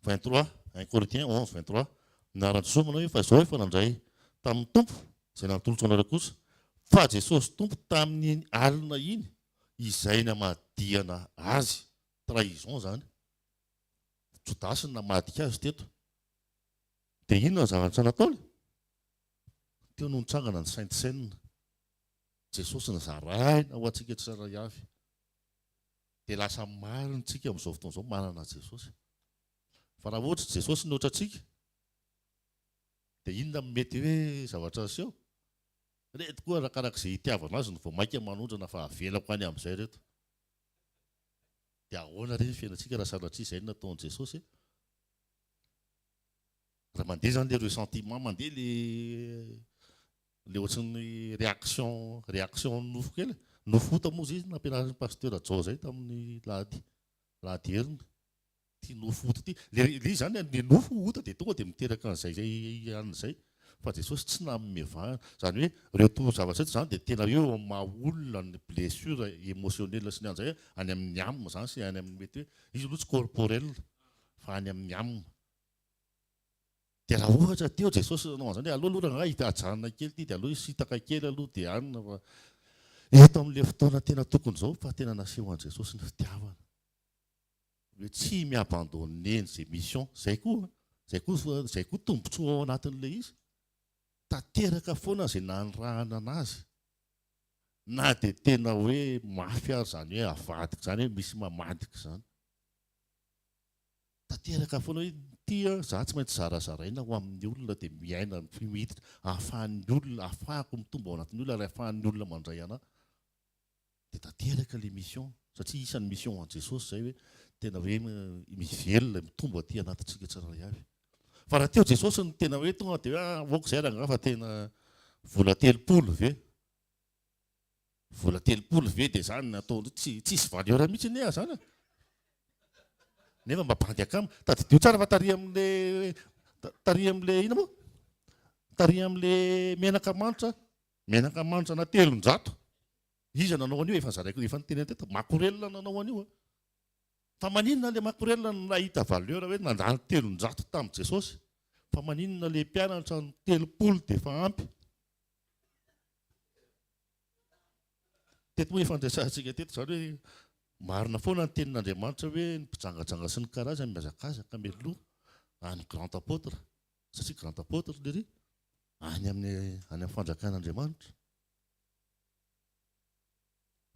23, un Corinthiens onze, vingt trois, Niara-niseho manao hoe, fa izao efa nandray tamin'ny Tompo izay natolotro anareo kosa, fa Jesosy Tompo tamin'iny alina iny izay namadihana Azy, trahison izany, Jodasy no namadika Azy teto. Dia inona ny zavatra nataony? Teo no nitsangana ny Sainte Seine. Jesosy nizaraina ho antsika tsirairay avy. Dia lasa maro ny tsika amin'izao fotoana izao manana Jesosy. Fa raha ohatra Jesosy nihoatra antsika, dia inona no mety hoe zavatra niseho? Ireto koa arakaraka izay itiavana azy no vao mainka manondrana fa avelako any amin'izay ireto. Dia ahoana re ny fiainantsika raha sanatria izay no nataon'i Jesosy? Raha mandeha izany ilay ressentiment, mandeha ilay Le ohatran'ny réaction réaction ny nofo kely e. Nofo hota moa zay izy nampianarin'i Pasteur Jao zay tamin'ny lahady lahady heriny. Ty nofo hota ty. Le izy zany an, ny nofo hota dia tonga dia miteraka an'izay anona izay. Fa Jesosy tsy nanome vahana. Zany hoe reo to zavatra reto zany dia tena hoe ao amin'ny maha olona ny blessure émotionnel sy ny an'izay an, any amin'ny âme zany sy any amin'ny mety hoe izy aloha tsy corporel fa any amin'ny âme. Dia raha ohatra teo Jesosy nanao an'izany hoe aleo aloha rangahy ity ajanona kely ity dia aleo hisitaka kely aloha dia hanina fa eto amin'ilay fotoana tena tokony izao fa tena nasehon'i Jesosy ny fitiavana hoe tsy mi-abandonner ny ze mission zay koa zay koa zay koa tombontsoa ao anatin'ilay izy tanteraka foana ze nanirahana anazy na de tena hoe mafy ary zany hoe avadika zany hoe misy mamadika zany Tanteraka foana hoe ity izaho tsy maintsy zarazaraina ho amin'ny olona dia miaina miditra ahafahan'ny olona ahafahako mitombo ao anatin'ny olona ary ahafahan'ny olona mandray anà dia tanteraka ilay mission satria isan'ny mission an'i Jesosy izay hoe tena hoe mivelona mitombo aty anatintsika tsirairay avy fa raha teo Jesosy no tena hoe tonga dia hoe ah, aoka izay rangaha fa tena vola telopolo ve Vola telopolo ve dia zany nataony tsy tsisy valeur mihitsy anie ah zany ah. Nefa mba bandy akama. Tadidio tsara fa tarihy amle tarihy amle ina moa? Tarihy amle menaka manitra, menaka manitra na telonjato. Iza nanao an'io efa zaraiko efa niteny teto makorelina nanao an'io ah. Fa maninona le makorelina no nahita valeur hoe nandany telonjato tamin'i Jesosy? Fa maninona le mpianatra ny telopolo dia efa ampy? Teto moa efa andresantsika teto izany hoe marina foana ny tenin'Andriamanitra hoe ny mpijangajanga sy ny karazany mihazakazaka mialoha any grand apôtre satria grand apôtre lery any amin'ny any amin'ny fanjakan'Andriamanitra.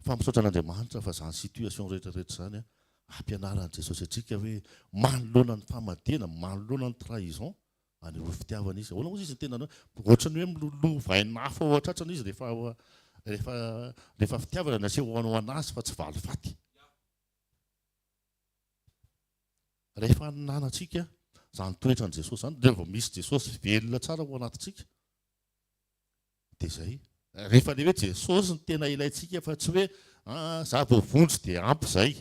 Fa misaotra an'Andriamanitra fa zany situation rehetra rehetra zany a ampianaran'i Jesosy antsika hoe manoloana ny famadihana, manoloana ny trahison, anehoy fitiavana izy. Ahoana ozy izy ny tenany hoe ohatrany hoe miloloha vainina hafa ao an-tratrany izy rehefa rehefa rehefa fitiavana ny aseho ho an'azy fa tsy valifaty. Rehefa ananantsika zany toetran'i Jesosy zany dia vao misy Jesosy velona tsara ao anatintsika. Dia izay. Rehefa ilay hoe Jesosy no tena ilaintsika fa tsy hoe aa za voavonjy dia ampy izay.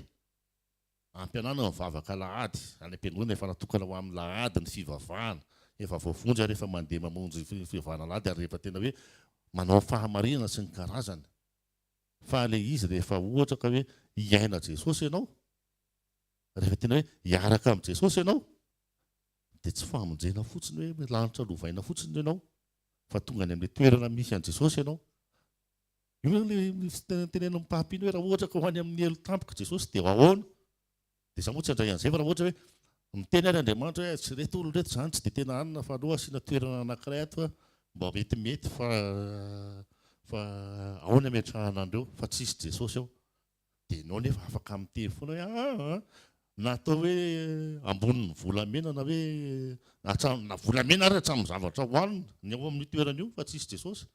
Ampy anao ny mivavaka alahady, any am-piangonana efa natokana ho amin'ny alahady ny fivavahana, efa voavonjy ary efa mandeha mamonjy fivavahana alahady ary rehefa tena hoe manao fahamarinana sy ny karazany. Fa ilay izy rehefa ohatra ka hoe hiaina Jesosy ianao, rehefa tena hoe hiaraka amin'i Jesosy ianao, dia tsy famonjena fotsiny hoe lanitra lovaina fotsiny no ianao. fa tonga any amin'ilay toerana misy an'i Jesosy ianao. Io zany ilay misy tenenan'ny mpampino hoe raha ohatra ka ho any amin'ny helo tampoka i Jesosy dia ahoana? Dia za moa tsy handray an'izay fa raha ohatra hoe miteny ary Andriamanitra hoe tsy ireto olona ireto izany tsy dia tena anona fa aleo asiana toerana anankiray ato fa mba metimety fa fa ao ny ametrahana an'ireo fa tsisy Jesosy ao. Dia ianao nefa afaka mitery foana hoe aa aa na atao hoe ambonin'ny volamena na hoe hatramin'ny na volamena ary hatramin'ny zavatra hohanina ny ao amin'io toerana io fa tsisy Jesosy,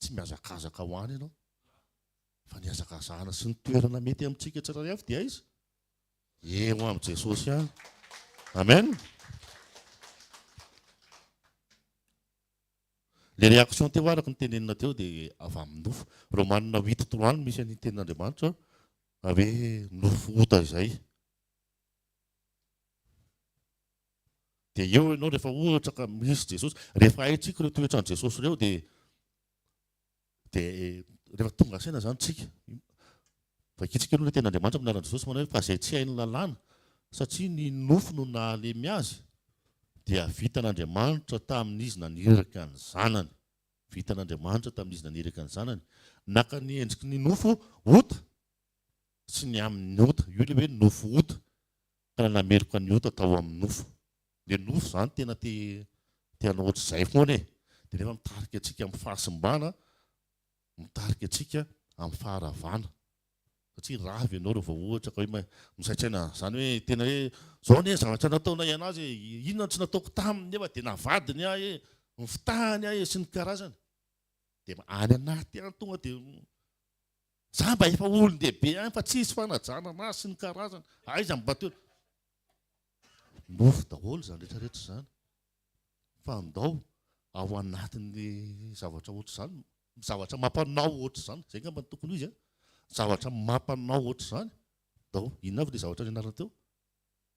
tsy mihazakazaka ho any ianao. Fa ny hihazakazahana sy ny toerana mety amintsika tsirairay avy dia aiza? Eo amin'i Jesosy ihany. Amen. Le reaction teo araka ny tenenina teo de avy amin'ny nofo. Romanina huit trois no misy an'iny tenin'Andriamanitra hoe nofo ota izay. De eo ianao rehefa ohatra ka misy Jesosy, rehefa haintsika ireo toetran'i Jesosy ireo de. Dia rehefa tonga saina izany tsika, vakintsika aloha ilay tenin'Andriamanitra amin'ny anaran'i Jesosy manao hoe fa izay tsy hain'ny lalàna satria ny nofo no nahalemy azy dia vitan'Andriamanitra tamin'izy naniraka ny zanany. Vitan'Andriamanitra tamin'izy naniraka ny zanany. Naka ny endriky ny nofo ota sy ny amin'ny ota. Io ilay hoe nofo ota. Tena nameloka ny ota tao amin'ny nofo. Dia nofo izany tena te te hanao ohatr'izay foana e! Dia nefa mitarika antsika amin'ny fahasimbana, mitarika antsika amin'ny faharavana. Satria rava ianao raha vao ohatra ka hoe misaintsaina izany hoe tena hoe izao anie ny zavatra nataonay an'azy e! Inona no tsy nataoko taminy nefa dia navadiny ahy e! Nifitahany ahy e! sy ny karazany. Dia any anaty any tonga dia Za mba efa olondehibe ihany fa tsisy fanajana anah sy ny karazany, aiza ny batteau? Nofy daholo izany rehetra rehetra izany fa ndao ao anatin'ny zavatra ohatr'izany, zavatra mampanao ohatr'izany, zay ngamba no tokony ho izy an, zavatra mampanao ohatr'izany ndao, inona avy le zavatra nianarana teo?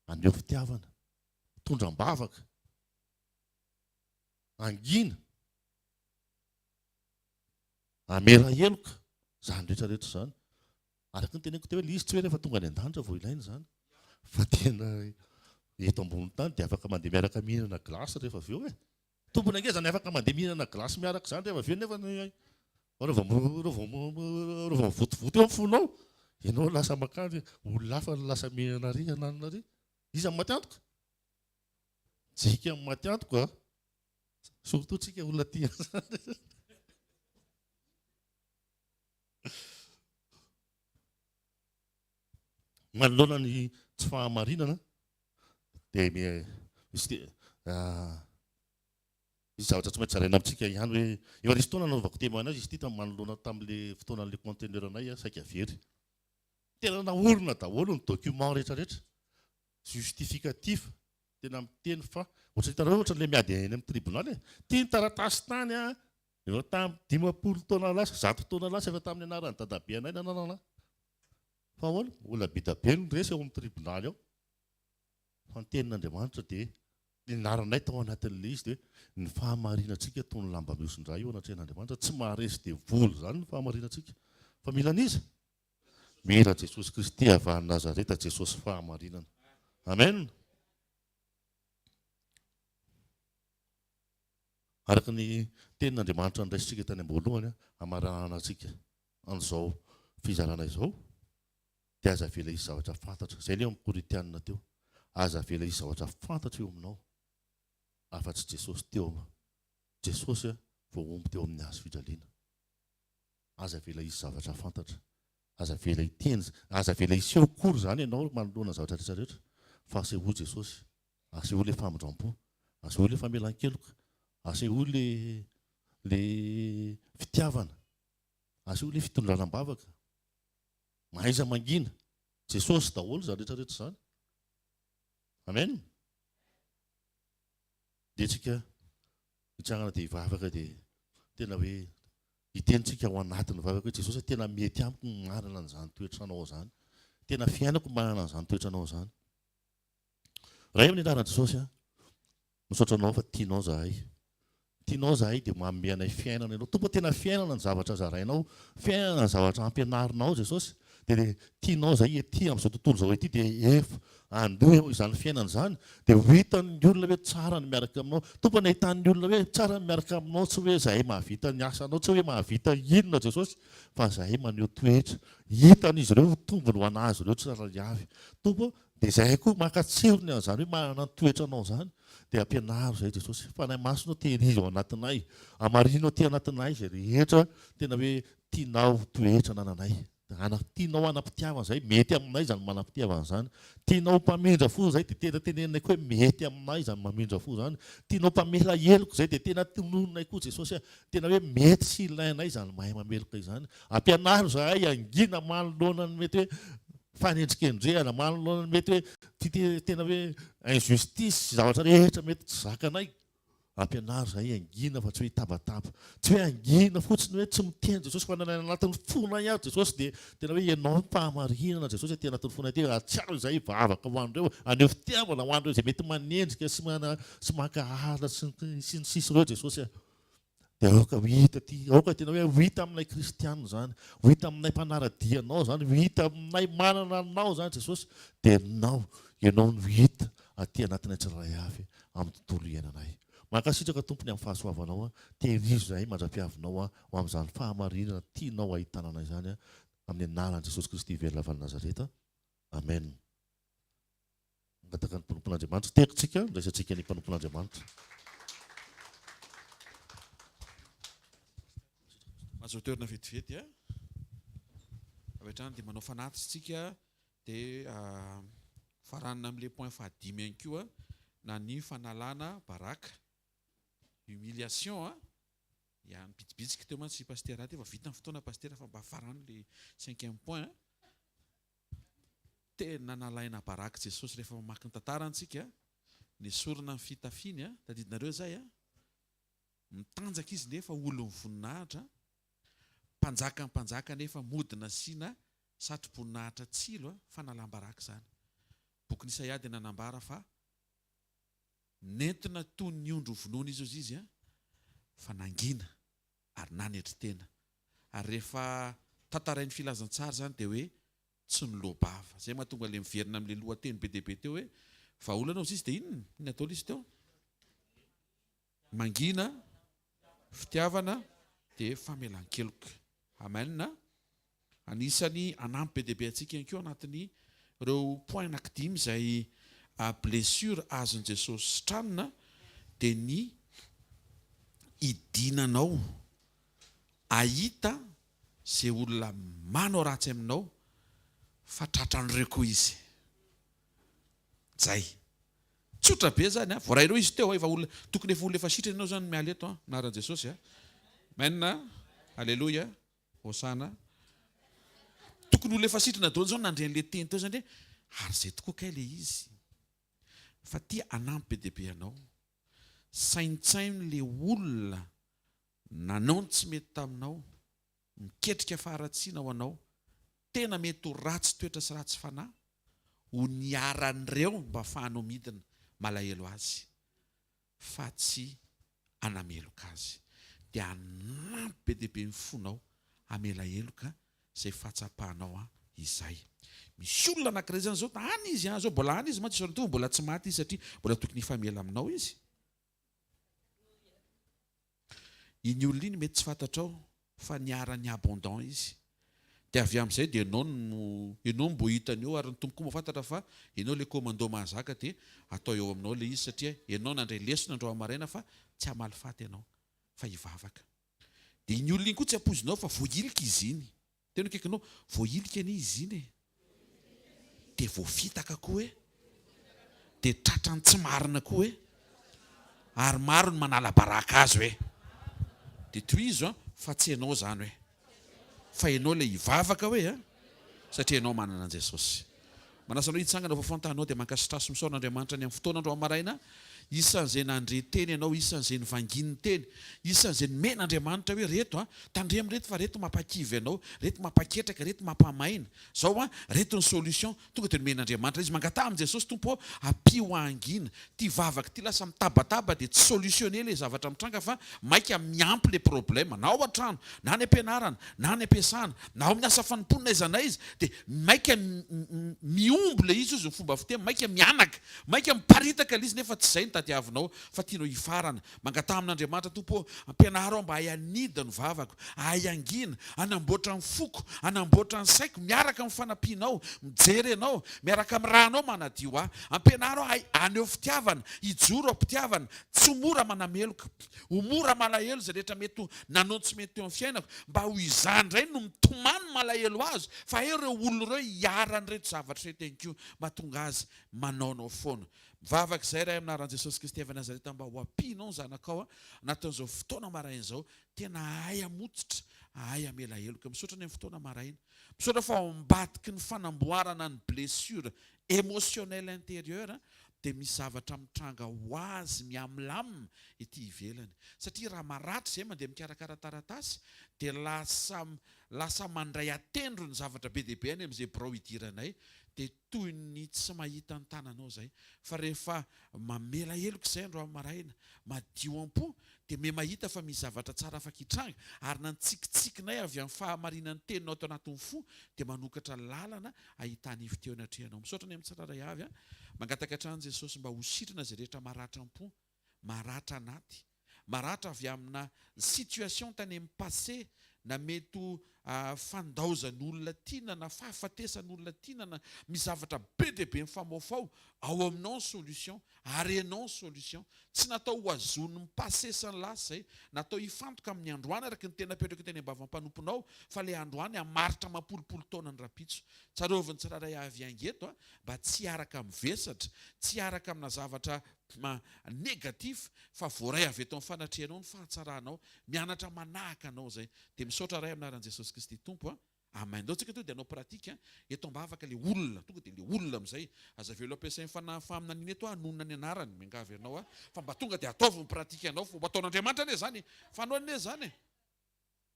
Aneho fitiavana, tondra am-bavaka, angina. Hamela heloka izany rehetra rehetra izany. Araka ny teneniko teo, ilay izy tsy hoe rehefa tonga any an-danitra vao ilaina izany. Fa tena eto ambony tany dia afaka mandeha miaraka mihinana glace rehefa avy eo e. Tompony ange izany afaka mandeha mihinana glace miaraka izany rehefa avy eo nefa ny Ary vao ary vao ary vao mivontovonto eo ny fonao, ianao lasa mankany olona hafa no lasa mihinana ary hananina ary. Iza no maty antoka? JK no maty antoka a! Surtout tsika olona aty Manoloana ny tsy fahamarinana dia misy ah, misy zavatra tsy maintsy zaraina amintsika ihany hoe efa nisy fotoana nanaovako témoignage izy ity tamin'ny manoloana tamin'le fotoanan'le conteneur anay ah, saika very. Tena naorina daholo ny document rehetrarehetra justificatif Tena miteny fa ohatry ny hitanareo ohatry ilay miady eny amin'ny tribunal e! Ity ny taratasy tany an! Efa tamin'ny dimampolo taona lasa, zato taona lasa efa tamin'ny anaran'i dadabe anay nananana an! Fa ahoana? Olona bida be no resy ao amin'ny tribunal ao. Fa ny tenin'Andriamanitra dia nianaranay tao anatin'ilay izy dia hoe ny fahamarinantsika toy ny lamba mihosin-dra io anatrehan'Andriamanitra, tsy maharesy devoly izany ny fahamarinantsika. Fa mila an'iza? Mila Jesosy Kristy avy any Nazareta Jesosy fahamarinana. Amen. Araka ny tenin'Andriamanitra niraisintsika tany am-boalohany hamarahana antsika an'izao fizarana izao dia aza avela hisy zavatra fantatra. Izay ilay amin'ny Korintianina teo. Aza avela hisy zavatra fantatra eo aminao afa-tsy Jesosy teo. Jesosy vao omby teo amin'ny hazo fijaliana. Aza avela hisy zavatra fantatra. Aza avela hiteny, aza avela hiseho akory izany ianao manoloana ny zavatra rehetra rehetra, fa asehoy Jesosy. Asehoy ilay famindram-po. Asehoy ilay famelan-keloka. Asehoy ilay ilay fitiavana. Asehoy ilay fitondrana am-bavaka. Mahaiza mangina. Jesosy daholo izany rehetra rehetra izany. Amen. Dia tsika hitsangana dia hivavaka dia tena hoe Hitenitsika ao anatin'ny vavaka hoe, Jesosy a, tena mety amiko ny manana an'izany toetra Anao izany. Tena fiainako ny manana an'izany toetra Anao izany. Ray amin'ny anaran'i Jesosy a, misaotra Anao fa tianao izahay. Tianao izahay dia manome anay fiainana Ianao. Tompo a, tena fiainana ny zavatra zarainao, fiainana ny zavatra ampianarinao Jesosy. Dia ilay tianao izay ety amin'izao tontolo izao ety dia efa andeha eo izany fiainana izany dia ho hitan'ny olona hoe tsara ny miaraka aminao. Tompo an, ahitan'ny olona hoe tsara ny miaraka aminao tsy hoe izahay mahavita ny asanao, tsy hoe mahavita inona Jesosy fa izahay maneho toetra hitan'izy ireo ho tombony ho an'azy ireo tsirairay avy Tompo an. Dia izahay koa mankatsiro ny an'izany hoe manana ny toetranao izany dia ampianaro izahay Jesosy. Fanahy Masina o, tehirizo ao anatinay, hamarino aty anatinay izay rehetra tena hoe Tianao ho toetra anananay Ana, tianao hanam-pitiavana izay, mety aminay izany manam-pitiavana izany. Tianao ho mpamindra fo izay, dia tena teneninay koa hoe mety aminay izany mamindra fo izany. Tianao mpamela heloka izay, dia tena tononinay koa Jesosy a, tena hoe mety sy ilainay izany mahay mameloka izany. Ampianaro izahay hangina manoloana ny mety hoe fanendrikendrehana, manoloana ny mety hoe tena hoe injustice sy zavatra rehetra mety tsy zakanay. Ampianaro izahay hangina fa tsy hoe hitabataba. Tsy hoe hangina fotsiny hoe tsy miteny Jesosy fa na ny anatin'ny fonay ary Jesosy dia tena hoe ianao no fahamarinana Jesosy aty anatin'ny fonay aty. Hahatsiaro izay hivavaka ho an'ireo, haneho fitiavana ho an'ireo izay mety manenjika sy maka alina sy ny sisa ireo Jesosy a. Dia aoka ho hita aty, aoka tena hoe ho hita aminay kristiana izany, ho hita aminay mpanara-dia anao izany, ho hita aminay manana anao izany Jesosy, dia ianao, ianao no hita aty anatinay tsirairay avy amin'ny tontolo iainanay. Mankasitraka Tompo ny amin'ny fahasoavanao, tehirizo izahay mandra-piavinao ho amin'izany fahamarinana tianao hahitana anay izany, amin'ny anaran'i Jesosy Kristy velona avy any Nazareta, Amen. Mangataka ny mpanompon'Andriamanitra teto tsika ndraisantsika ny mpanompon'Andriamanitra. Azo toerana vetivety a. Avy hatrany dia manao fanatitra tsika dia faranina amin'ilay point fahadimy ihany koa na ny fanalana baraka. Humiliation a. Ya nibitsibitsika teo mantsy i Pasitera aty efa vita ny fotoana Pasitera fa mba faranina ilay cinquième point a. Tena nalaina baraky Jesosy rehefa mamaky ny tantarany tsika, nesorina ny fitafiany a, tadidinareo zay a, mitanjaka izy nefa olon'ny voninahitra, mpanjakan'ny mpanjaka nefa mody nasiana satroboninahitra tsilo a, fanalam-baraka izany. Bokin'i Isaia dia nanambara fa nentina toy ny ondry hovonoina izy hozy izy a, fa nangina. ary nanetry tena. Ary rehefa tantarain'ny filazantsara izany dia hoe tsy noloa-bava. Izay mahatonga ilay miverina amin'ilay lohateny be dia be teo hoe, vahaolana hozy izy dia inona? Inona daholo izy teo? Mangina, fitiavana dia famelan-keloka. Amen. Anisany hanampy be dia be antsika ihany koa anatin'ny ireo point anaky dimy izay blessure azon'i Jesosy sitranina dia ny hidinanao ahita izay olona manao ratsy aminao fa tratran'ireo koa izy. Zay. Tsotra be zany a! Voarainao izy teo a! Efa olona, tokony efa olona efa sitrana ianao zany miala eto a! Anaran'i Jesosy a! Amen a! Aleloia! Hosana a. Tokony ho lefa sitrana daholo zao nandre an'le teny teo zany re ary zay tokoa kay le izy fa tia hanampy be dia be anao. Saintsaino le olona nanao ny tsy mety taminao, miketrika faharatsiana ho anao, tena mety ho ratsy toetra sy ratsy fanahy, ho niharan'ireo mba afahanao midina. Malahelo azy. fa tsy hanameloka azy, dia hanampy be dia be ny fonao hamela heloka izay fahatsapanao izay. Misy olona anankiray izany izao, any izy an, izao mbola any izy, mantsy izao mitovy mbola tsy maty izy satria mbola tokony hifamela aminao izy. Iny olona iny mety tsy fantatrao fa niharan'i Abondant izy. Dia avy amin'izay dia ianao no ianao no mbo hita an'io ary ny Tompo koa mahafantatra fa ianao ilay commando mahazaka dia atao eo aminao ilay izy satria ianao nandray lesona androany maraina fa tsy hamaly faty ianao fa hivavaka. Dia iny olona iny koa tsy ampoizinao fa voahilika izy iny. Teo ny akaikinao, voahilika anie izy iny e! Dia voafitaka koa e! Dia tratran'ny tsy marina koa e! Ary maro ny manala baraka azo e! Dia tohizo an! fa tsy ianao izany hoe! Fa ianao ilay hivavaka hoe an! satria ianao manana an'i Jesosy. Manasa anao hitsangana ho vaovao ny taninao dia mankasitrà sy misaona Andriamanitra ny amin'ny fotoana androany maraina isan'izay nandre teny ianao, isan'izay nivangian'ny teny, isan'izay nomena Andriamanitra hoe reto an, tandremo reto fa reto mampakivy anao, reto mampaketraka, reto mampamaina, zao an, reto ny solution, tonga dia nomena Andriamanitra izy, mangataha amin'i Jesosy, Tompo ô, ampio hahangina, Ty vavaka ty lasa mitabataba dia tsy solutionner le zavatra mitranga fa maika miampy le problème na ao antrano na any ampianarana na any ampiasana na ao amin'ny asa fanompoana n'aiza n'aiza dia maika mihombo le izy hozy ny fomba fiteny maika mihanaka maika miparitaka le izy nefa tsy izay no tadiavinao fa tianao hifarana Mangataha amin'Andriamanitra Tompo ô, ampianaro aho mba hahay hanidina ny vavako, hahay hangina, hanamboatra ny foko, hanamboatra ny saiko miaraka amin'ny fanampianao, mijery Anao, miaraka amin'ny ra Anao manadio ahy. Ampianaro aho hahay haneho fitiavana, hijoro am-pitiavana, tsy ho mora manameloka. Ho mora malahelo izay rehetra mety ho nanao ny tsy mety teo amin'ny fiainako, mba ho izaho indray no mitomany malahelo azy fa hay ireo olona ireo hiharan'ireto zavatra ireto ihany koa mahatonga azy manao anao foana. Mivavaka izahay Ray amin'ny anaran'i Jesosy Kristy avy Nazareta mba ho ampianao ny zanakao anatin'izao fotoana maraina izao tena hahay hamototra hahay hamela heloka misaotra ny amin'ny fotoana maraina misaotra fa ao ambadiky ny fanamboarana ny blessure emotionnel intérieur dia misy zavatra mitranga ho azy mihamlam ety ivelany satria raha maratra izay mandeha mikarakara taratasy dia lasa lasa mandray atendro ny zavatra be dia be any amin'izay birao idiranay dia toy ny tsy mahita ny tananao izay fa rehefa mamela heloka izay andro maraina madio am-po dia miha mahita fa misy zavatra tsara afaka hitranga ary na ny tsikitsikinay avy amin'ny fahamarinan'ny teninao tao anatin'ny fo dia manokatra lalana ahitana hevitra eo anatrehanao misaotra ny amin'ny tsirairay avy a mangataka hatrany Jesosy mba ho sitrana izay rehetra maratra am-po maratra anaty maratra avy amina situation tany amin'ny passé na mety ho fandaozan'olona tiana na fahafatesan'olona tiana na misy zavatra be dia be mifamoafao ao aminao ny solution ary ianao ny solution. Tsy natao ho azon'ny passé sy ny lasa izay, natao hifantoka amin'ny androany araka ny tena apetraka teny am-bavan'ny mpanomponao fa ilay androany hamaritra amam-polopolo taona ny rahampitso. Tsarovy ny tsirairay avy hiainga eto mba tsy hiaraka amin'ny vesatra, tsy hiaraka amina zavatra Tma negatif fa voaray avy eto am fanatrehanao ny fahatsaranao mianatra manahaka anao izay dia misaotra ray am anaran jesosy kristy tompo a amen ndao tsika tonga dia hanao pratique eto ambavaka le olona tonga dia le olona amizay aza velo ampiasay ny fanahy faminaniana eto a hanonona ny anarany miangavy anao a fa mba tonga dia ataovy ny pratique anao fomba ataon'andriamanitra anie zany e fa anao anie zany e.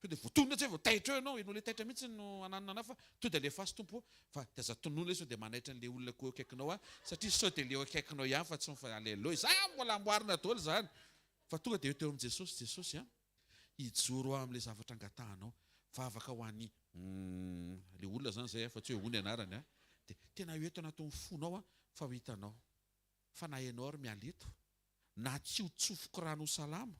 To dia voatonona tsy hay vao taitra eo ianao, ianao ilay taitra mihitsy no ananona anà fa to dia alefaso Tompo o, fa dia aza tonona ilay sao dia manaitra an'ilay olona ko eo akaikinao any, satria sao dia ilay eo akaikinao ihany fa tsy ny fa alelo izany mbola amboarina daholo izany fa tonga dia eo teo amin'i Jesosy, Jesosy a, hijoro aho amin'ilay zavatra angatahanao, vavaka ho an'i umm ilay olona izany izay a, fa tsy hoe o ny anarany a, dia tena eo eto anatin'ny fonao aho fa ho hitanao, fa na ianao ary miala eto, na tsy ho tsofiko rano ho salama,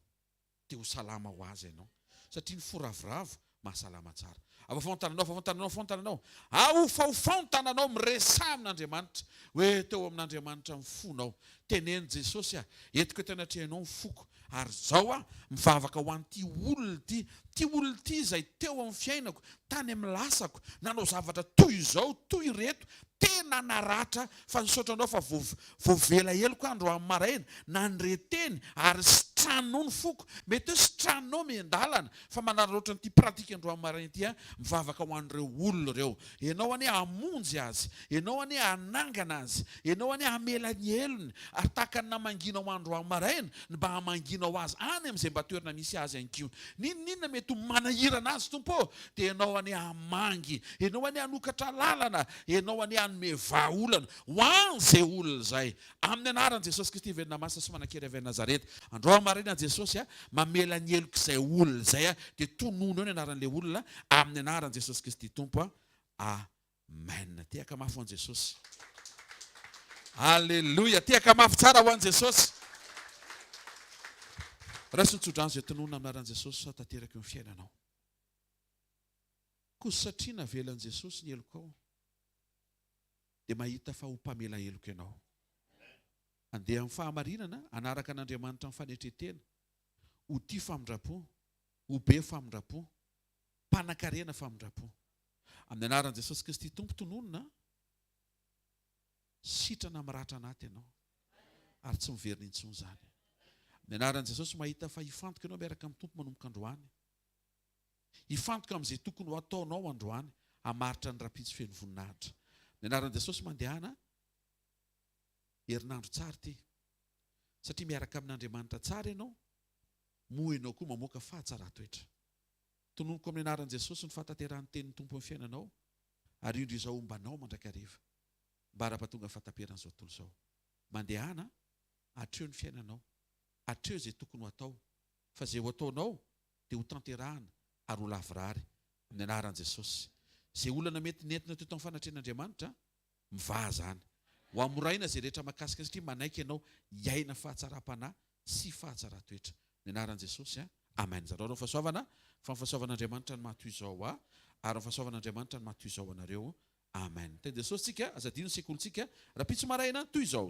Dia ho salama ho azy ianao. Satria ny fo ravoravo mahasalama tsara. Afaofao ny tananao, afaofao ny tananao, afaofao ny tananao. Aofaofao ny tananao, miresaha amin'Andriamanitra. Hoe, Teo amin'Andriamanitra ny fonao. Teneno, Jesosy a, entiko eto anatrehanao ny foko. Ary izao aho mivavaka ho an'ity olona ity. Ity olona ity izay teo amin'ny fiainako, tany amin'ny lasako, nanao zavatra toy izao, toy ireto. Tena naratra fa nisaotra anao fa voavela heloka aho androany maraina, na ny reteny ary sitraninao ny foko, mety hoe sitraninao miandalana fa manararaotra an'ity pratique androany maraina ity aho, mivavaka ho an'ireo olona ireo, ianao anie hamonjy azy, ianao anie hanangana azy, ianao anie hamela ny helony, ary tahaka ny namanginao androany maraina ny mba hamanginao azy any amin'izay mba toerana misy azy ihany koa, n'inon'inona mety ho manahirana azy Tompo ô, dia ianao anie hamangy, ianao anie hanokatra lalana, Ianao anie hanome vahaolana ho an zay olona zay aminy anaran Jesosy Kristy velona masina sy manankery avy any Nazareta andro aho marina Jesosy a mamela ny heloka izay olona zay aho dia tononeo ny anaran le olona aminy anaran Jesosy Kristy Tompo a Amen tehaka mafy ho an Jesosy Aleloia tehaka mafy tsara ho an Jesosy Raiso ny tsodrano izay tononina aminy anaran Jesosy sao tanteraka eo ny fiainanao. Koa satria navelan'i Jesosy ny helokao dia mahita fa ho mpamela heloka ianao. Andeha amin'ny fahamarinana, hanaraka an'Andriamanitra amin'ny fanetren-tena, ho tia famindram-po, ho be famindram-po, mpanan-karena famindram-po. Amin'ny anaran'i Jesosy Kristy Tompo tononina an! Sitrana miratra anaty ianao ary tsy miverina intsony izany. Amin'ny anaran'i Jesosy mahita fa hifantoka ianao miaraka amin'ny Tompo manomboka androany. Hifantoka amin'izay tokony ho ataonao androany hamaritra ny rahampitso feno voninahitra. Ny anaran'i Jesosy mandehana herinandro tsara ity. Satria miaraka amin'Andriamanitra tsara ianao, moa ianao koa mamoaka fahatsaran-toetra. Tononiko amin'ny anaran'i Jesosy ny fahatanterahan'ny tenin'ny Tompo amin'ny fiainanao, ary indro izaho homba anao mandrakariva. Ambara ampahatonga ny fahataperan'izao tontolo izao. Mandehana, atreo ny fiainanao, atreo izay tokony ho atao. fa izay ho ataonao dia ho tanterahana ary ho lavorary amin'ny anaran'i Jesosy. Izay olana mety nentina teo tamin'ny fanatrehan'Andriamanitra, mivaha izany. Ho hamoraina izay rehetra mahakasika azy satria manaiky ianao hiaina fahatsaram-panahy sy fahatsaran-toetra. Amin'ny anaran'i Jesosy, amen. Zarao ireo fahasoavana, fa ny fahasoavan'Andriamanitra no maha toy izao ahy ary ny fahasoavan'Andriamanitra no maha toy izao anareo, amen. Teny Jesosy tsika, aza adino ny sekolintsika rahampitso maraina toy izao.